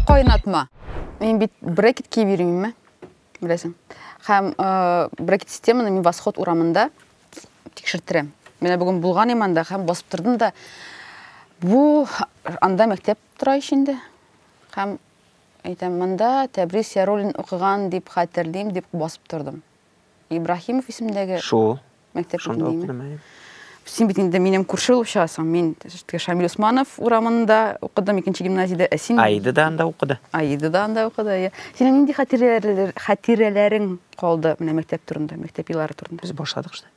Кайнатма. Мин бит брекет киеп йөрмим, беләсең. Һәм э, брекет системаны мин Восход урамында тикшертерәм. Менә бүген булган иманда һәм басып тордым да бу анда мәктәп тора ич инде. Һәм әйтәм, монда Тәбрис Яруллин укыган дип хәтерлим, дип басып тордым. Ибраһимов исемендәге Шул. мәктәп Шунда битендәме? укыдым, әйе. Син бит инде минем күрше булып чыгасың. Мин теге Шамил Усманов урамында укыдым, икенче гимназиядә. Ә син Аида да анда укыды. Аида да анда укыды. әйе. Синең нинди хатирәләр- хатирәләрең калды менә мәктәп турында, мәктәп еллары турында? Без башладык шта.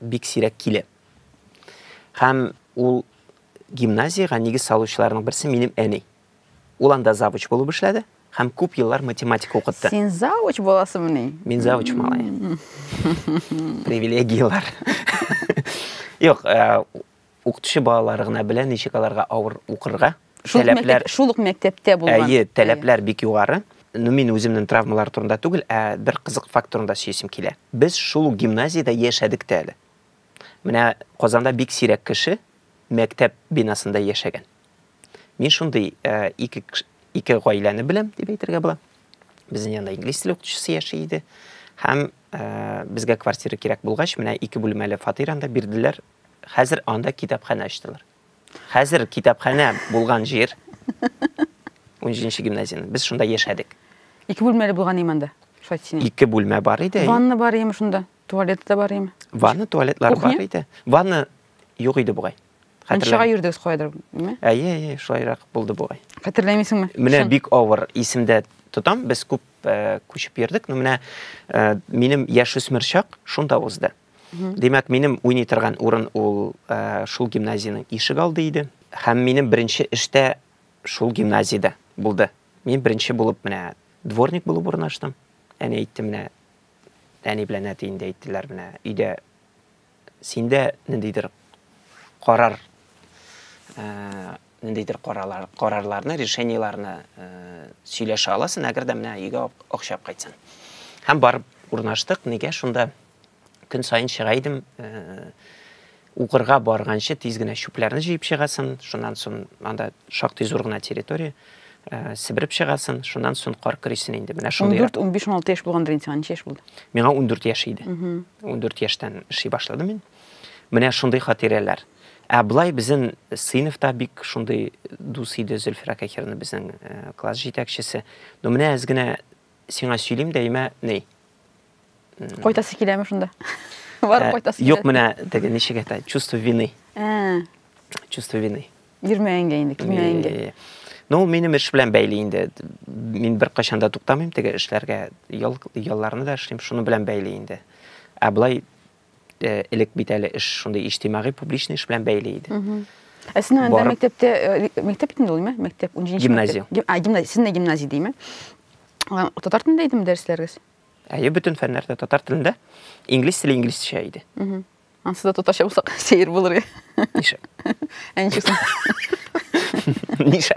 бик сирәк килә. Һәм ул гимназиягә нигез салучыларның берсе минем әни. Ул анда завуч булып эшләде һәм күп еллар математика укытты. Син завуч буласыңмыни? Мин завуч малай. Привилегияләр. Юк, э, Укытучы балалары гына белә ничек аларга авыр укырга. Шул ук мәктәп, шул ук мәктәптә булган. Әйе, таләпләр бик югары. Ну, мин үземнең травмалар турында түгел, ә бер кызык факт турында сөйлисем килә. Без шул ук гимназиядә яшәдек тә әле. Менә Казанда бик сирәк кеше мәктәп бинасында яшәгән. Мин шундый ике ике гаиләне беләм, дип әйтергә була. Безнең янда инглиз теле укытучысы яши иде. Һәм безгә квартира кирәк булгач, менә ике бүлмәле фатир анда бирделәр. Хәзер анда китапханә ачтылар. Хәзер китапханә булган җир, унҗиденче гимназиянең, без шунда яшәдек. Ике бүлмәле булган име анда? Шулай дисең. Ике бүлмә бар иде. Ванна бар име шунда? Туалет та бар име? Ванна, туалетлар Кухня? бар иде. Ванна юк иде бугай. Мунчага йөрдегез каядыр, әйеме? Әйе, әйе, шулайрак булды бугай. Хәтерләмисеңме? Менә бик авыр исемдә тотам, без күп э, күчеп йөрдек, но менә э, минем яшүсмер чак шунда узды. Димәк, минем уйный торган урын ул э, шул гимназиянең ишек алды иде. Һәм минем беренче эштә шул гимназиядә булды. Мин беренче булып менә дворник булып урнаштым. Әни әйтте менә, әни белән әти инде әйттеләр менә, өйдә синдә ниндидер карар э, ниндидер карарлар, карарларны, решениеларны э, сөйләшә аласың, әгәр дә менә өйгә акча алып кайтсаң. Һәм барып урнаштык, нигә шунда көн сайын чыга идем, э, укырга барганчы тиз генә чүпләрне җыеп чыгасын, шуннан соң анда шактый зур гына территория, э, сибереп чыгасын, шуннан соң кар көрисен инде. Менә шундый. 14, 15, 16 яшь булгандыр инде, ничә яшь булды? Миңа 14 яшь иде. 14 яшьтән эшли башладым мин. Менә шундый хатирәләр. Ә болай безнең сыйныфта бик шундый дус иде Зөлфирә Кахирна безнең э, класс җитәкчесе. Ну менә әз генә сиңа сөйлим дә, имә, ни? Кайтасы киләме шунда? Барып кайтасы килә. Юк, менә теге ничек әйтә, чувство вины. Ә. Чувство вины. Йөрмәгәнгә инде, килмәгәнгә. Ну, ул минем эш белән бәйле инде. Мин бер кайчан да туктамыйм теге эшләргә. Ял, ялларны да эшлим, шуны белән бәйле инде. Ә былай Э, элек бит әле эш шундый иҗтимагый публичный эш белән бәйле иде ә син анда мәктәптә э, мәктәп бит инде ул ме мәктәп унжинче гимназия а гимназия син дә гимназия дейме татар телендә идеме дәресләрегез әйе бөтен фәннәр дә татар телендә инглиз теле инглизчә иде анысы да татарча булса сәер булыр иә ә ничек соң ниша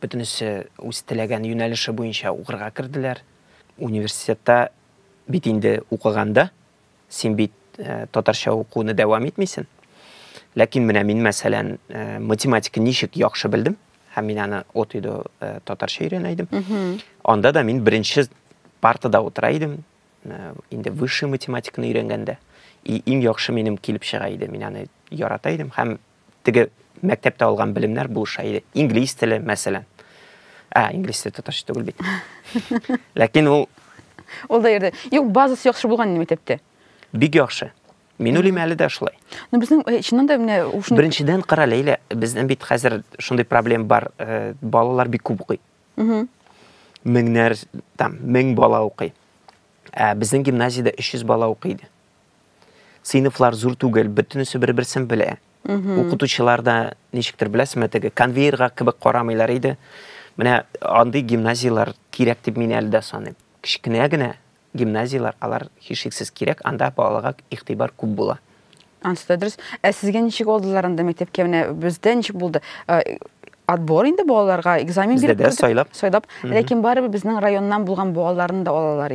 бөтенесе үз теләгән юнәлеше буенча укырга керделәр. Университетта бит инде укыганда, син бит э, татарча укуны дәвам итмисен. Ләкин менә мин, мәсәлән, э, математика ничек яхшы белдем, һәм мин аны от иде э, татарча өйрәнә идем. Анда да мин беренче партада утыра идем, инде высший математиканы өйрәнгәндә. И иң яхшы минем килеп чыга иде, мин аны ярата идем һәм теге мәктәптә алган белемнәр булыша иде. Инглиз теле, мәсәлән. Ә, инглиз теле татарча түгел бит. Ләкин ул Ул да йөрде. Юк, базасы яхшы булган инде мәктәптә. Бик яхшы. Мин уйлыйм әле дә шулай. Ну безнең э, чыннан да менә ушын... Беренчедән кара Ләйлә, безнең бит хәзер шундый проблем бар, э, балалар бик күп укый. Меңнәр, там, мең бала укый. Ә безнең гимназиядә 300 бала укый иде. сыйныфлар зур түгел, бөтенесе бер-берсен белә. Укытучылар да ничектер беләсезме, теге конвейерга кебек карамыйлар иде. Менә андый гимназияләр кирәк дип мин әле дә саныйм. Кечкенә генә гимназияләр, алар һичшиксез кирәк, анда балага игътибар күп була. Ансы да дөрес. Ә сезгә ничек алдылар анда мәктәпкә? Менә бездә ничек булды? отбор инде балаларга экзамен биреп сайлап сайлап ләкин барыбер безнең районнан булган балаларны да алалар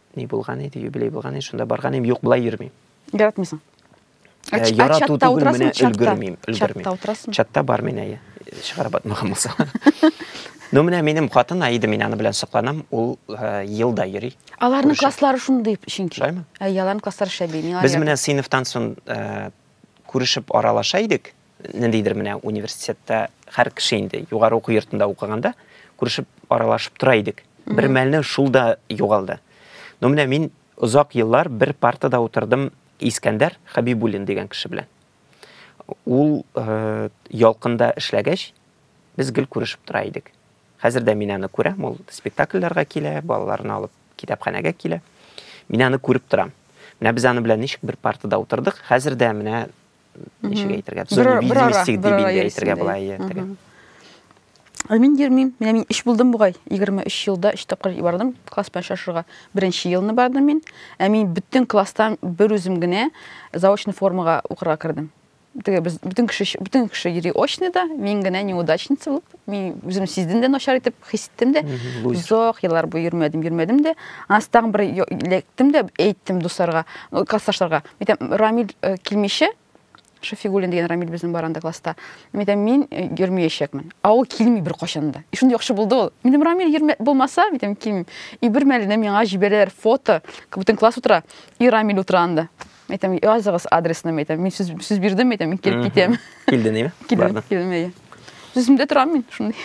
ни булган иде, юбилей булган иде, шунда барган идем, юк, былай йөрмим. Яратмыйсың. Ә, ә, ярату түгел, менә өлгермим, өлгермим. Чатта утырасың. Чатта бар менә, чыгарып атмаган булса. Ну, менә минем хатын Аида, мин аны белән сокланам, ул э, елда йөри. Аларның класслары шундый чөнки. Шулаймы? Ә, аларның класслары шәби. Без менә сыйныфтан соң э, күрешеп аралаша идек, ниндидер менә университетта һәр кеше инде югары уку йортында укыганда күрешеп аралашып тора идек бер мәлне шул да югалды но менә мин озак еллар бер партада утырдым искәндәр хәбибуллин дигән кеше белән ул э, ялкында эшләгәч без гел күрешеп тора идек хәзер дә мин аны күрәм ул спектакльләргә килә балаларны алып китапханәгә килә мин аны күреп торам менә без аны белән ничек бер партада утырдык хәзер дә менә ничек әйтергә бизнестик дип инде әйтергә була ертеге ә мин йөрмим менә мин өч булдым бугай егерме өч елда өч тапкыр бардым класс белән очрашырга беренче елны бардым мин ә мин бөтен класстан бер үзем генә заочный формага укырга кердем теге без бөтен кеше бөтен кеше йөри очныйда мин генә неудачница булып мин үзем сиздем дә начар итеп хис иттем дә озак еллар буе йөрмәдем йөрмәдем дә аннан тагын бер эләктем дә әйттем дусларга классташларга Митәм, Рамил э, килмичә, Шафигуллин дигән Рамил безнең бар анда класста. Митәм, мин э, йөрмәячәкмен. Ә ул килми бер кашан да. И шундый яхшы булды ул. Митәм, Рамил йөрмә булмаса, митәм, килмим. И бер мәлне миңа җибәрәләр фото, бүтән класс утыра, и Рамил утыра анда. Митәм, языгыз адресны, митәм, мин сүз сүз бирдем, митәм, мин килеп китәм. Килден, яме? Килдем, килдем, яме. Сүземдә торам мин шундый.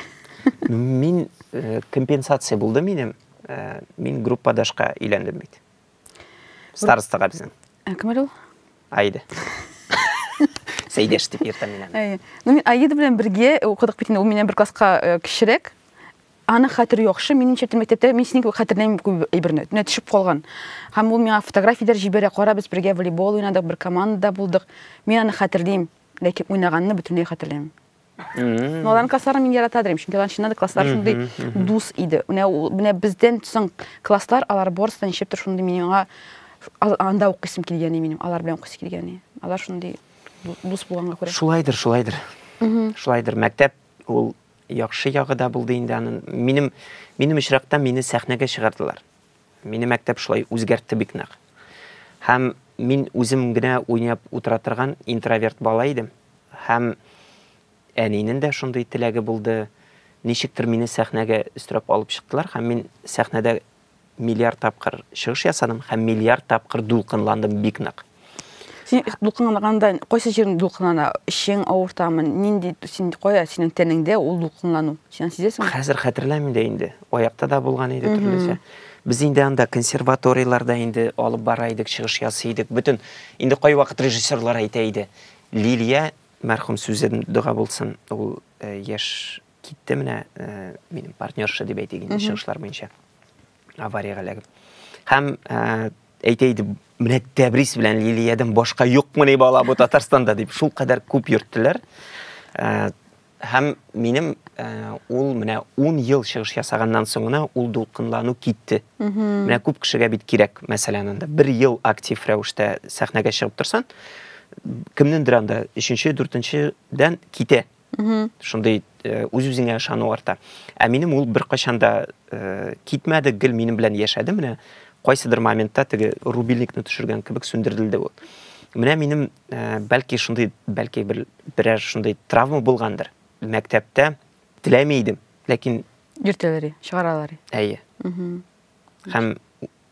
Мин э, компенсация булды минем. Э, мин группадашка иләндем бит. Старостага безнең. Ә кем әле ул? Аида. Сәйдәш дип йөртәм мин аны. Әйе. Ну мин Аида белән бергә укыдык бит инде, ул миннән бер класска э, кечерәк. Аны хәтер яхшы, минем чәптә мәктәптә мин синең кебек хәтерләмим күп әйберне. Төнә төшеп калган. Һәм ул миңа фотографияләр җибәрә, кара без бергә волейбол уйнадык, бер командада булдык. Мин аны хәтерлим, ләкин уйнаганны бөтенләй хәтерләмим. Но аларның классларын мин ярата дирем, чөнки алар чыннан да класслар шундый дус иде. Менә менә бездән соң класслар алар барысы да ничектер шундый миңа анда укыйсым килгәни минем, алар белән укыйсы килгәни. Алар шундый дус булганга күрә. Шулайдыр, шулайдыр. Шулайдыр. Мәктәп ул яхшы ягы да булды инде аның. Минем минем очракта мине сәхнәгә чыгардылар. Мине мәктәп шулай үзгәртте бик нык. Һәм мин үзем генә уйнап утыра торган интроверт бала идем. Һәм әнинен дә шундый теләге булды. Ничектер мине сәхнәгә өстерәп алып чыктылар һәм мин сәхнәдә миллиард тапкыр чыгыш ясадым һәм миллиард тапкыр дулкынландым бик нык. Син дулкынланганда кайсы җирең дулкынлана? Эчең авыртамы? Нинди син кая синең тәнеңдә ул дулкынлану? Син сизәсеңме? Хәзер хәтерләмим дә инде. Аякта да булган иде төрлечә. Без инде анда консерваторияләрдә инде алып бара идек, чыгыш ясый идек. Бөтен инде кайвакыт режиссерлар әйтә иде. Лилия мәрхүм сүзе дога булсын, ул э, яшь китте менә, э, минем партнерша дип әйтик инде, чыгышлар буенча. авариягә эләгеп. Һәм ә, әйтә иде, менә Тәбрис белән Лилиядән башка юкмыни бала бу Татарстанда дип шул кадәр күп йөрттеләр. Ә, һәм минем ә, ул менә 10 ел чыгыш ясаганнан соң гына ул дулкынлану китте. Менә күп кешегә бит кирәк, мәсәлән, анда бер ел актив рәвештә сәхнәгә чыгып торсан, кемнендер анда 3-4-дән китә. шундый э, үз үзеңә ышану арта ә минем ул беркайчан да э, китмәде гел минем белән яшәде менә кайсыдыр моментта теге рубильникны төшергән кебек сүндерелде ул менә минем э, бәлки шундый бәлки бер берәр шундый травма булгандыр мәктәптә теләми идем ләкин йөртәләр чыгаралар әйе һәм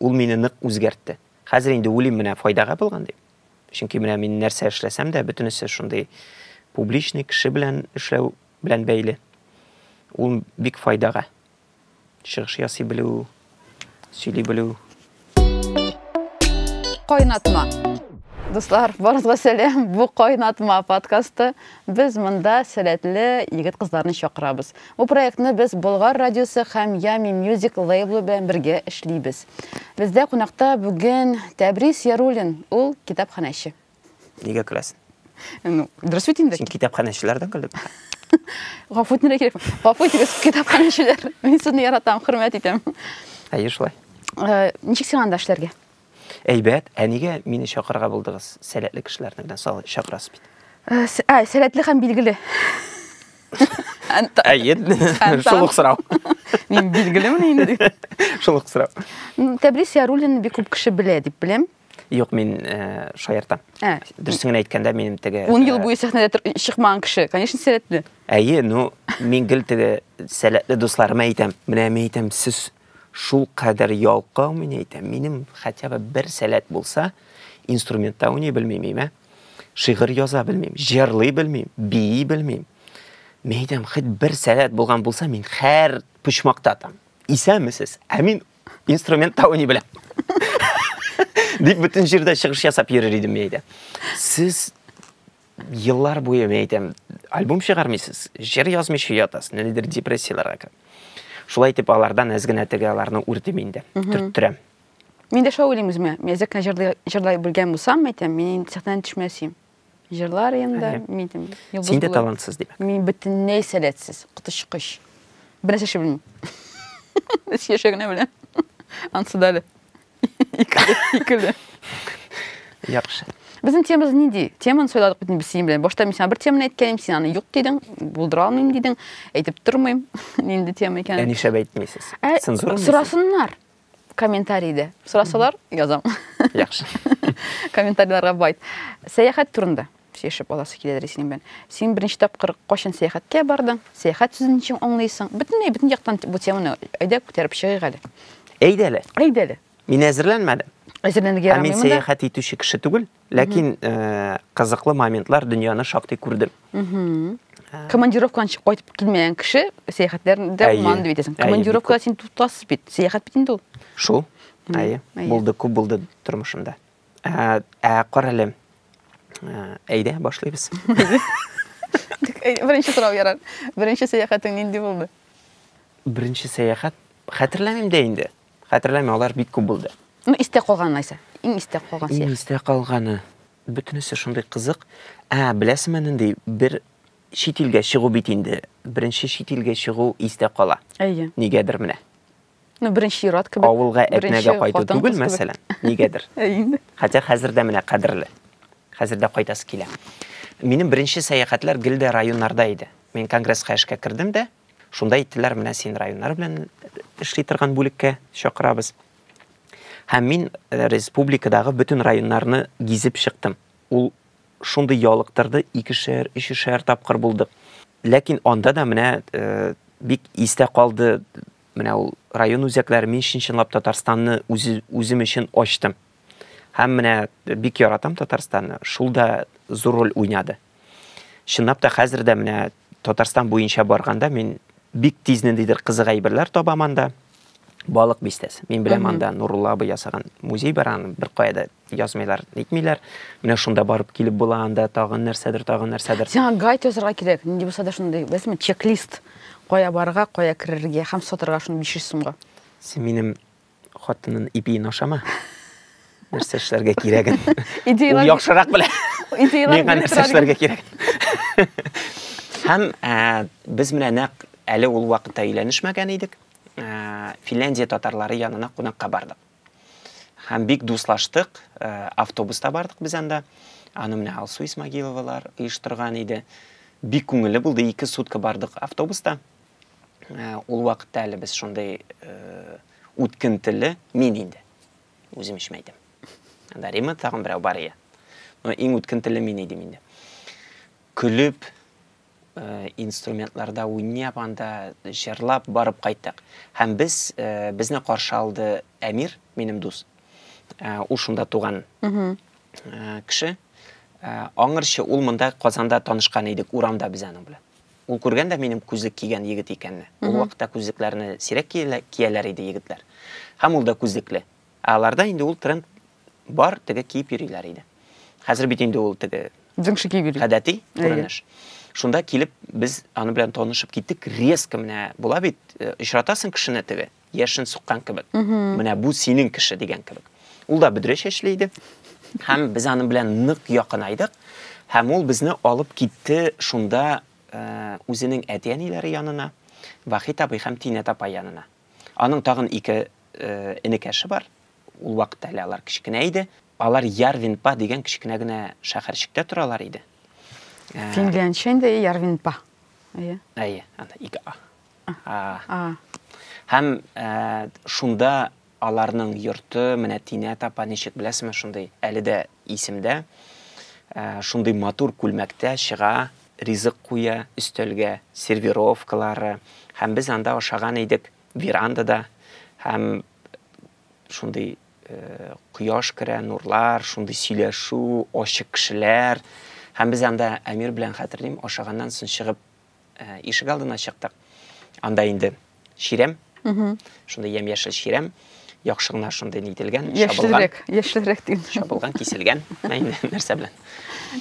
ул мине нык үзгәртте хәзер инде уйлыйм менә файдага булган дип Чөнки менә мин нәрсә эшләсәм дә, бөтенесе шундый публичный кеше белән эшләү белән бәйле. Ул бик файдага. Чыгыш ясый белү, сөйли белү. Кайнатма. Дуслар, барыгызга сәлам. Бу кайнатма подкасты. Без монда сәләтле егет-кызларны чакырабыз. Бу проектны без Болгар радиосы һәм Yummy Music лейблы белән бергә эшлибез. Бездә кунакта бүген Тәбрис Яруллин, ул китапханәче. Нигә көләсен? Ну, дөрес бит инде. Син китапханәчеләрдән көлеп. Гафу итәргә кирәк. Гафу итегез, китапханәчеләр. Мин сезне яратам, хөрмәт итәм. Әйе, шулай. Э, ничек сиңа анда эшләргә? Әйбәт, ә нигә мине чакырырга булдыгыз? Сәләтле кешеләрне белән сал чакырасыз бит. Э, с- Ә, сәләтле һәм билгеле. Әнта- Әйе, Әнтан. шул ук сорау. Мин билгелемен инде. Шул ук сорау. М, Тәбрис Яруллинны бик күп кеше белә дип беләм. Юк, мин э, шаяртам. Ә, Дөресен генә әйткәндә, минем теге... Ун ел э, буе сәхнәдә тор- чыкмаган кеше, конечно, сәләтле. Әйе, ну, мин гел теге сәләтле дусларыма әйтәм. Менә мин әйтәм, сез шул кадәр ялкау, мин әйтәм, минем хотя бы бер сәләт булса, инструментта уйный белмим, әйме? Шигырь яза белмим, җырлый белмим, бии белмим. Мин әйтәм, хит бер сәләт булган булса, мин хәр почмакта там. Исәмесез, ә мин инструментта уйный беләм. Дип бөтен җирдә чыгыш ясап йөрер идем, мин әйтәм. Сез Еллар буе, мин әйтәм, альбом чыгармыйсыз, җыр язмыйча ятасыз, ниндидер депрессияләргә кереп. Шулай итеп, алардан әз генә теге аларны үрдем инде, төрттерәм. Мин дә шулай уйлыйм үземә. Мин әзрәк кенә җырлый, җырлый белгән булсам, әйтәм, мин инде сәхнәдән төшмәс идем. Җырлар инде, мин әйтәм, йолдыз Син дә булыр. талантсыз, димәк. Мин бөтенләй сәләтсез, коточкыч. Бернәрсә эшли белмим. Эш яшәгенә беләм. Ансы да әле. Икеле. Яхшы. Безнең темамыз нинди? Теманы сөйләдек бит без синең белән. Башта мин сиңа бер теманы әйткәнем, син аны юк дидең, булдыра алмыйм дидең. Әйтеп тормыйм, нинди тема икәнен. Ә нишләп әйтмисез? Ә, Цензура Сорасыннар комментарийда. Сорасалар, язам. Яхшы. Комментарийларга байт. Сәяхәт турында. Сөйләшеп аласы килә дә синең белән. Син беренче тапкыр кайчан сәяхәткә бардың? Сәяхәт сүзен ничек аңлыйсың? Бөтенләй бөтен яктан бу теманы әйдә күтәреп чыгыйк әле. Әйдә әле. Әйдә әле. Мин әзерләнмәдем. Әзерләнергә ярамый монда. Мин сәяхәт итүче кеше түгел, ләкин э, кызыклы моментлар дөньяны шактый күрдем. Командировкадан чыгып кайтып килмәгән кеше сәяхәтләрдә булмаган дип әйтәсең. Командировкада син тутасыз бит. Сәяхәт бит инде ул. Шул. Әйе. Булды, күп булды тормышымда. Ә, ә карале. Әйдә, башлыйбыз. Беренче сорау ярар. Беренче сәяхәтең нинди булды? Беренче сәяхәт хәтерләмим дә инде. Хәтерләмим, алар бик күп булды. Ну, истә калган нәрсә. Иң истә калган сәяхәт. Иң истә калганы. Бөтенесе шундый кызык. Ә, беләсеңме нинди? Бер чит илгә чыгу бит инде. Беренче чит илгә чыгу истә кала. Әйе. Нигәдер менә. Ну, беренче ират кебек. Авылга әтнәгә кайту түгел, мәсәлән, нигәдер. Хәтя хәзер дә менә кадерле. Хәзер дә кайтасы килә. Минем беренче сәяхәтләр гел дә районнарда иде. Мин конгресска эшкә кердем дә, шунда әйттеләр, менә син районнар белән эшли торган бүлеккә чакырабыз. Һәм мин э, республикадагы бөтен районнарны гизеп чыктым. Ул шундый ялыктырды, икешәр, өчешәр тапкыр булдык. Ләкин анда да менә э, бик истә калды Менә ул район үзәкләре, мин чын-чынлап Татарстанны үзем өчен ачтым. Һәм менә бик яратам Татарстанны, шул да зур роль уйнады. Чынлап та хәзер дә менә Татарстан буенча барганда мин бик тиз ниндидер кызык әйберләр табам анда. Балык бистәсе. Мин беләм анда Нурулла абый ясаган музей бар, аны бер кая да язмыйлар, нитмиләр. Менә шунда барып килеп була, анда тагын нәрсәдер, тагын нәрсәдер. Сиңа гайд язырга кирәк, нинди булса да шундый, беләсеңме, чек-лист. Кая барырга, кая керергә һәм сатырга шуны 500 сумга. Син минем хатынның ипиен ашама. Нәрсә эшләргә кирәген. Идеялар. Яхшырак белә. Идеялар. Миңа нәрсә эшләргә кирәк. Һәм без менә нәкъ әле ул вакытта өйләнешмәгән идек. Финляндия татарлары янына кунакка бардык. Һәм бик дуслаштык, э, автобуста бардык без анда. Аны менә Алсу Исмагиловалар оештырган иде. Бик күңелле булды, ике сутка бардык автобуста. Э, ул вакытта әле без шундый э, үткентеле, мин инде. Үзем өчен әйтәм. Анда Рима тагын берәү бар иде. Но иң үткентеле мин идем инде. Көлеп, инструментларда уйнап, анда җырлап барып кайттык. Һәм без безне каршы алды Әмир, минем дус. Ул шунда туган кеше. Аңырчы ул монда Казанда танышкан идек, урамда без аның белән. Ул күргән дә минем күзлек кигән егет икәнне. Ул вакытта күзлекләрне сирәк кияләр иде егетләр. Һәм ул да күзлекле. Аларда инде ул тренд бар, теге киеп йөриләр иде. Хәзер бит инде ул теге Дзиңши киеп йөри. Гадәти күренеш. Шунда килеп без аны белән танышып киттек. Резко менә була бит, э, очратасың кешене теге, яшен суккан кебек. Менә бу синең кеше дигән кебек. Ул да бөдрә чәчле иде. Һәм без аны белән нык якынайдык. Һәм ул безне алып китте шунда э, үзенең әти-әниләре янына, Вахит абый һәм Тинә апай янына. Аның тагын ике э, энекәше бар. Ул вакытта әле алар кечкенә иде. Алар Ярвинпа дигән кечкенә генә шәһәрчектә торалар иде. Ә, Финлянча инде Ярвинпа. Әйе. Әйе, анда ике а. А. Һәм ә, шунда аларның йорты, менә Тинә тапа ничек беләсезме, шундый әле дә исемдә. Ә, шундый матур күлмәктә чыга, ризык куя өстәлгә, сервировкалары. Һәм без анда ашаган идек верандада. Һәм шундый э, кояш керә, нурлар, шундый сөйләшү, ачык кешеләр. Һәм без анда Әмир белән хәтерлим, ашаганнан соң чыгып э, ишек алдына чыктык. Анда инде чирәм, шундый ямь-яшел чирәм, яхшы гына шундый нителгән, шабылган. Яшьлерәк, яшьлерәк дим. Шабылган, киселгән. Нәрсә белән?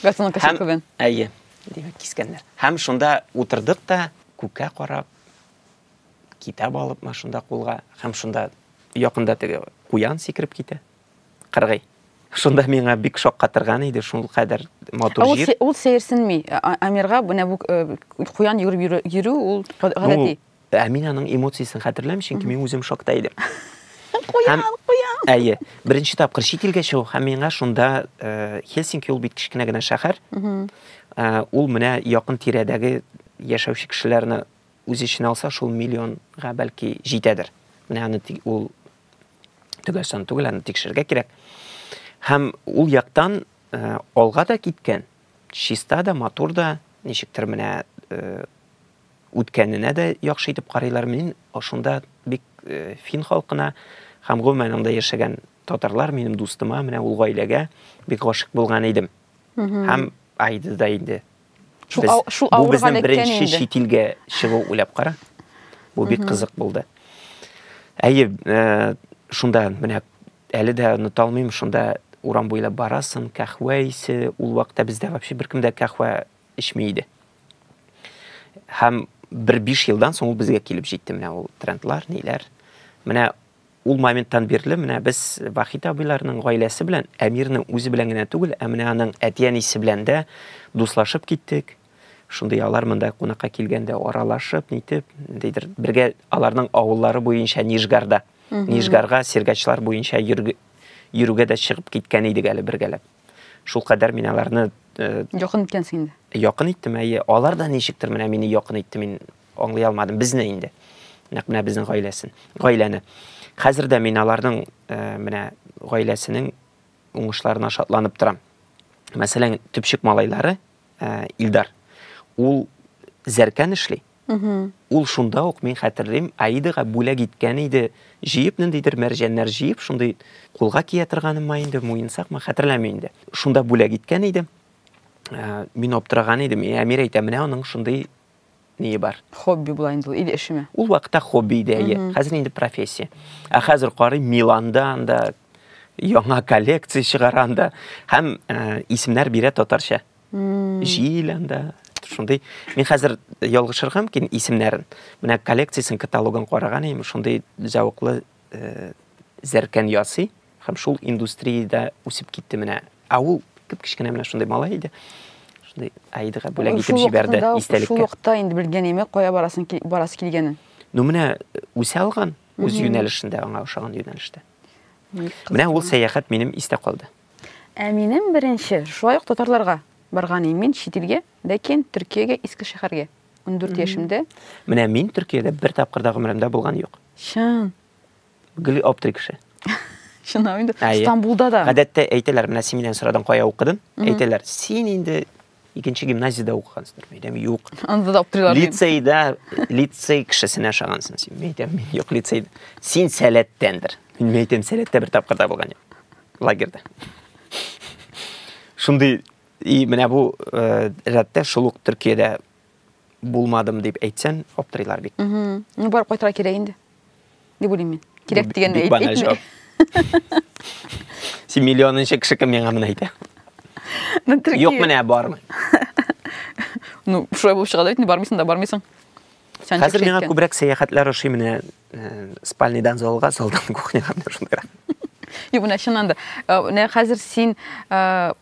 Газон кешекүбен. Әйе, димәк, кискәннәр. Һәм шунда утырдык та, күккә карап, Китап алып машинда кулга һәм шунда якында теге куян сикереп китә. Кыргый. Шунда миңа бик шаккатырган иде, шул кадәр матур җир. Ул, ул сәерсенми. Амирга менә бу куян йөреп йөрү ул гадәти. Ну, ә мин аның эмоциясен хәтерләмим, чөнки мин үзем шокта идем. Куян, куян. Әйе. Беренче тапкыр чит илгә чыгу һәм миңа шунда Хельсинки ул бит кечкенә генә шәһәр. Ул менә якын тирәдәге яшәүче кешеләрне үз эченә алса, шул миллионга бәлки җитәдер. Менә аны ул төгәл сан түгел, аны тикшерергә кирәк. Һәм ул яктан э, алга да киткән, чиста да, матур да, ничектер менә э, үткәненә дә яхшы итеп карыйлар. Мин шунда бик э, фин халкына һәм гомумән анда яшәгән татарлар минем дустыма, менә ул гаиләгә бик гашык булган идем. Һәм Айда да инде Шул, ау, шул бу безнең беренче чит илгә чыгу уйлап кара. Бу бик кызык булды. Әйе, э, шунда менә әле дә оныта алмыйм, шунда урам буйлап барасың, кахва исе, ул вакытта бездә вообще беркем дә кахва эчми иде. Һәм бер биш елдан соң ул безгә килеп җитте менә ул трендлар, ниләр. Менә Ул моменттан бирле менә без Вахит абыйларның гаиләсе белән Әмирнең үзе белән генә түгел, ә менә аның әти-әнисе белән дә дуслашып киттек. Шундый алар монда кунакка килгәндә аралашып, нитеп, дидер, бергә аларның авыллары буенча Нижгарда, Нижгарга сергачлар буенча йөрүгә дә чыгып киткән идек әле бергәләп. Шул кадәр мин аларны э, Якын иткәнсең инде. Якын иттем, әйе. Алар да ничектер менә мине якын итте. Мин Аңлый алмадым, безне инде. Нәкъ менә безнең гаиләсен, гаиләне. Хәзер дә мин аларның э, менә гаиләсенең уңышларына шатланып торам. Мәсәлән, төпчек малайлары э, Илдар. Ул зәркән эшли. Ул шунда ук мин хәтерлим, Аидаға бүләк иткән иде, җыеп ниндидер мәрҗәннәр җыеп, шундый кулга кия торганымы инде, муенсакмы, хәтерләмим инде. Шунда бүләк иткән иде. Э, мин аптыраган идем, Әмир әйтә, менә аның шундый ние бар. Хобби була инде ул, или эшеме? Ул вакытта хобби иде, әйе. Хәзер инде профессия. Ә хәзер карыйм, Миланда анда яңа коллекция чыгара анда һәм э, исемнәр бирә татарча. Җил анда, шундый мин хәзер ялгышырга мөмкин исемнәрен менә коллекциясен каталогын караган идем шундый зәвыклы зәркән ясый һәм шул индустриядә үсеп китте менә. Ә ул кеп кечкенә менә шундый малай иде. Шундый Аидага бүләк итеп җибәрде истәлеккә. Шул вакытта инде белгән име, кая барасын барас килгәнен. Ну менә үсә алган үз юнәлешендә, аңа ошаган юнәлештә. Менә ул сәяхәт минем истә калды. Ә минем беренче шулай ук татарларга барган мин чит илгә, ләкин Төркиягә Искешәһәргә. 14 яшемдә. Менә мин Төркиядә бер тапкыр да гомеремдә булган юк. Чын. Гел аптырый кеше. Чынлап инде. Стамбулда да. Гадәттә әйтәләр, менә син миннән сорадың, кая укыдың? Әйтәләр, син инде икенче гимназиядә укыгансыңдыр. Мин әйтәм, юк. Анда да аптырыйлар. Лицейда, лицей кешесенә ошагансың син. Мин әйтәм, мин юк лицейда. Син сәләттәндер. Мин әйтәм, сәләттә бер тапкыр да булган юк. Лагерьда. Шундый И менә бу э, рәттә шул ук Төркиядә булмадым дип әйтсән, аптырыйлар бит. Ну, барып кайтырга кирәк инде. Дип уйлыйм мин. Кирәк дигәнне әйтмә. Син миллионынчы кеше кем миңа моны әйтә? Ну, Төркия. Юк менә бармы? Ну, шулай булып чыга да бит, не бармыйсың да бармыйсың. Сән Хәзер миңа күбрәк сәяхәтләр ошый менә э, спальныйдан залга, залдан кухняга менә шундыйрак. Юк, менә чыннан да. Э, менә хәзер син э,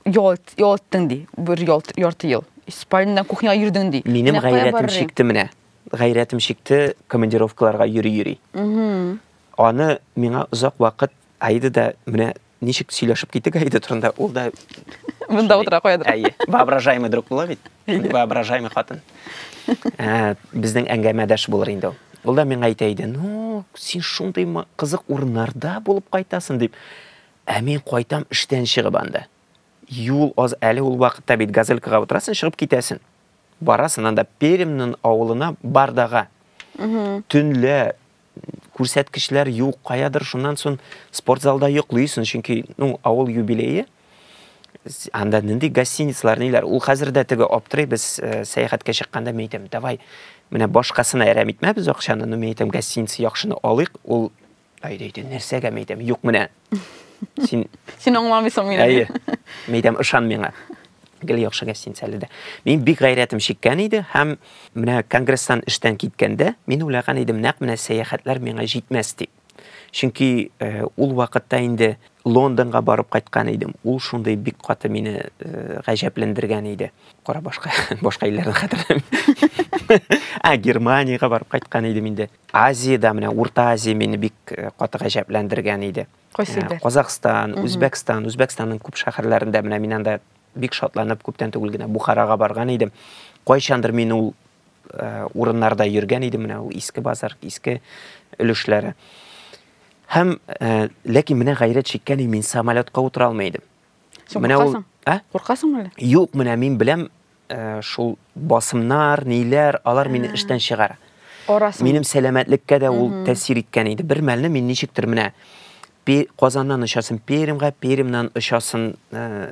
Ял, ял иттең ди, бер ял, ярты ел. Испаниядән кухняга йөрдең ди. Минем Менә кая гайрәтем барырый? чикте менә. Гайрәтем чикте командировкаларга йөри-йөри. Аны миңа озак вакыт Аида да менә ничек сөйләшеп киттек Аида турында, ул да Монда утыра куядыр. Әйе, воображаемый друг була бит. Воображаемый хатын. Ә, Безнең әңгәмәдәш булыр инде ул. Ул да миңа әйтә иде, ну, син шундый ма- кызык урыннарда булып кайтасың, дип. Ә мин кайтам эштән чыгып анда. Юл аз әле ул вакытта бит газелькага утырасың, чыгып китәсең. Барасың анда Перемнын авылына Бардага. Төнлә күрсәткечләр юк, каядыр шуннан сон спортзалда йоклыйсың, чөнки, ну, авыл юбилее. Анда нинди гостиницалар, ниләр. Ул хәзер дә теге аптырый, без э, сәяхәткә чыкканда мин әйтәм, давай, менә башкасына әрәм итмәбез акчаны, ну, мин әйтәм, гостиница яхшыны алыйк, ул Әйдә, әйдә, нәрсәгә мәйтәм? Юк, менә. Син Син аңламыйсың мине. Әйе. Мәйтәм, ышан миңа. Гел яхшыга син әле дә. Мин бик гайрәтем чиккән иде һәм менә конгресстан эштән киткәндә мин уйлаган идем, нәкъ менә сәяхәтләр миңа җитмәс дип. Чөнки э, ул вакытта инде Лондонга барып кайткан идем. Ул шундый бик каты мине э, гаҗәпләндергән иде. Кара башка башка илләрне хәтерләмим. А, Германиягә барып кайткан идем инде. Азиядә менә Урта Азия мине бик э, каты гаҗәпләндергән иде. Кайсы э, Казахстан, Үзбәкстан, Үзбәкстанның күп шәһәрләрендә менә мин анда бик шатланып күптән түгел генә Бухарага барган идем. Кайчандыр мин ул э, урыннарда йөргән идем, менә ул иске базар, иске өлешләре. Һәм ләкин менә гайрәт чиккән мин самолетка утыра алмый идем. Менә ул, а? Куркасың әле? Юк, менә мин беләм, Шул басымнар, ниләр, алар мине эштән чыгара. Арасың. Минем сәламәтлеккә дә ул тәэсир иткән иде. Бер мәлне мин ничектер менә Казаннан очасың Пермьга, Пермьнан очасың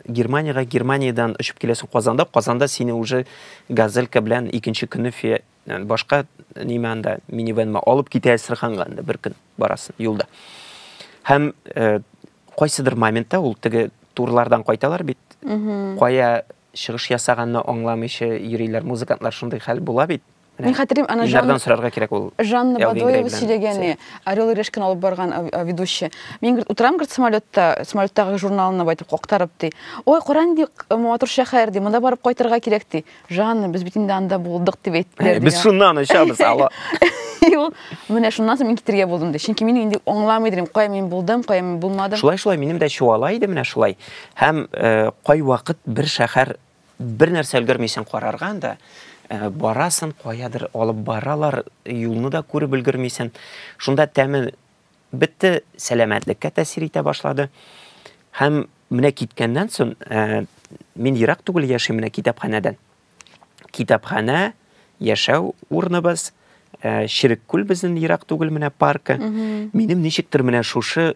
Германиягә, Германиядән очып киләсең Казанда, Казанда сине уже газелька белән икенче көнне башка нимә анда минивенма алып китә Әстерханга анда бер көн барасың юлда. Һәм кайсыдыр моментта ул теге турлардан кайталар бит. Кая чыгыш ясаганны аңламыйча йөриләр музыкантлар шундый хәл була бит Мин хәтерлим, ана Ильнардан сорарга кирәк ул. Жанна Бадоева сөйләгән, Орел и Решканы алып барган ведущий. Мин говорит, утырам говорит самолетта, самолеттагы журналны байтып коктарып ди. Ой, каран ди, матур шәһәр ди, монда барып кайтырга кирәк ди. Жанна, без бит инде анда булдык дип әйттеләр. Без шуннан очабыз, алло. Ул менә шуннан соң мин китергә булдым ди. Чөнки мин инде аңламый идем, кая мин булдым, кая мин булмадым. Шулай шулай минем дә чуала иде менә шулай. Һәм кайвакыт бер шәхәр бер нәрсә өлгермисең карарга анда барасын каядыр алып баралар юлны да күреп өлгермисең шунда тәме бетте сәламәтлеккә тәсир итә башлады һәм менә киткәннән соң ә, мин ерак түгел яшим менә китапханәдән китапханә яшәү урыныбыз ә, ширек күл безнең ерак түгел менә паркы минем ничектер менә шушы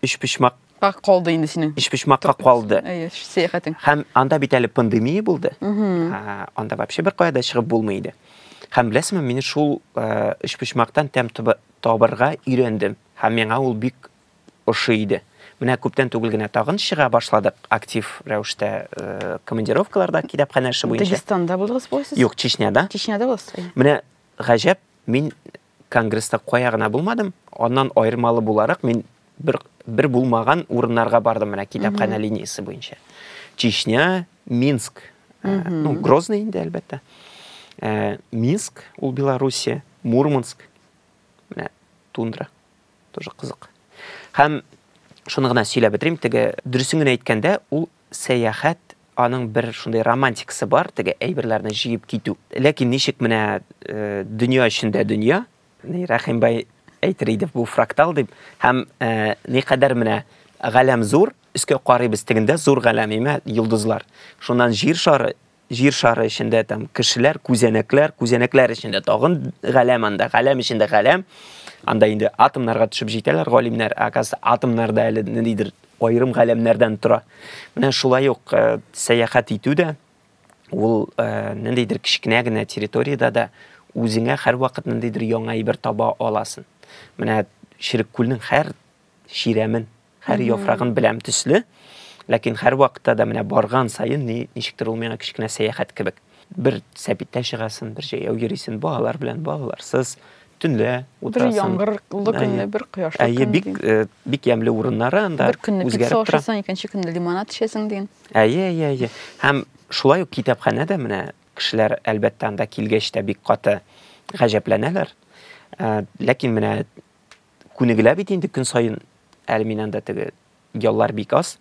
өчпочмак Ка калды инде синең. Өчпочмакка калды. Әйе, сәяхәтең. Һәм анда бит әле пандемия булды. Ә, анда вообще бер кая да чыгып булмый иде. Һәм беләсеңме, мин шул э, өчпочмактан тәм туба- табарга өйрәндем. Һәм миңа ул бик ошый иде. Менә күптән түгел генә тагын чыга башладык актив рәвештә э, командировкаларда китапханә эше буенча. Дагестанда булдыгыз бугай сез? Юк, Чечняда. Чечняда буласыз. Әйе. Менә гаҗәп, мин Конгресста кая гына булмадым, аннан аермалы буларак мин бер, бер булмаган урыннарга бардым менә китапханә линиясе буенча. Чечня, Минск, э, ну, Грозный инде, әлбәттә. Э, Минск, ул Белоруссия, Мурманск, менә тундра, тоже кызык. Һәм шуны гына сөйләп бетерим, теге дөресен генә әйткәндә, ул Сәяхәт, аның бер шундый романтикасы бар, теге әйберләрне җыеп китү. Ләкин ничек менә дөнья эчендә дөнья, ни Рәхимбай әйтер иде, бу фрактал дип, һәм никадәр менә галәм зур, өскә карыйбыз, тегендә зур галәм, имә йолдызлар. Шуннан җир шары, Җир шары эчендә там кешеләр, күзәнәкләр, күзәнәкләр эчендә тагын галәм анда, галәм эчендә галәм. Анда инде атомнарга төшеп җитәләр галимнәр, ә оказывается, атомнар да әле ниндидер аерым галәмнәрдән тора. Менә шулай ук э, сәяхәт итү дә ул э, ниндидер кечкенә генә территориядә дә үзеңә һәрвакыт ниндидер яңа әйбер таба аласың. Менә Ширеккүлнең һәр чирәмен Һәр яфрагын беләм төсле, ләкин һәрвакытта да менә барган саен ни, ничектер ул миңа кечкенә сәяхәт кебек. Бер сәбиттә чыгасың, бер җәяү йөрисең, балалар белән, балаларсыз, төнлә утырасың. Бер яңгырлы көнне, бер кояшлы көнне. Әйе, бик, э, бик ямьле урыннары анда Бер көнне пицца ашасың, икенче көнне лимонад эчәсең дигән. Әйе, әйе, әйе. Һәм шулай ук китапханә дә менә кешеләр әлбәттә анда килгәч тә бик каты гаҗәпләнәләр. Э, ләкин менә күнегелә бит инде көн саен әле мин анда теге яллар бик аз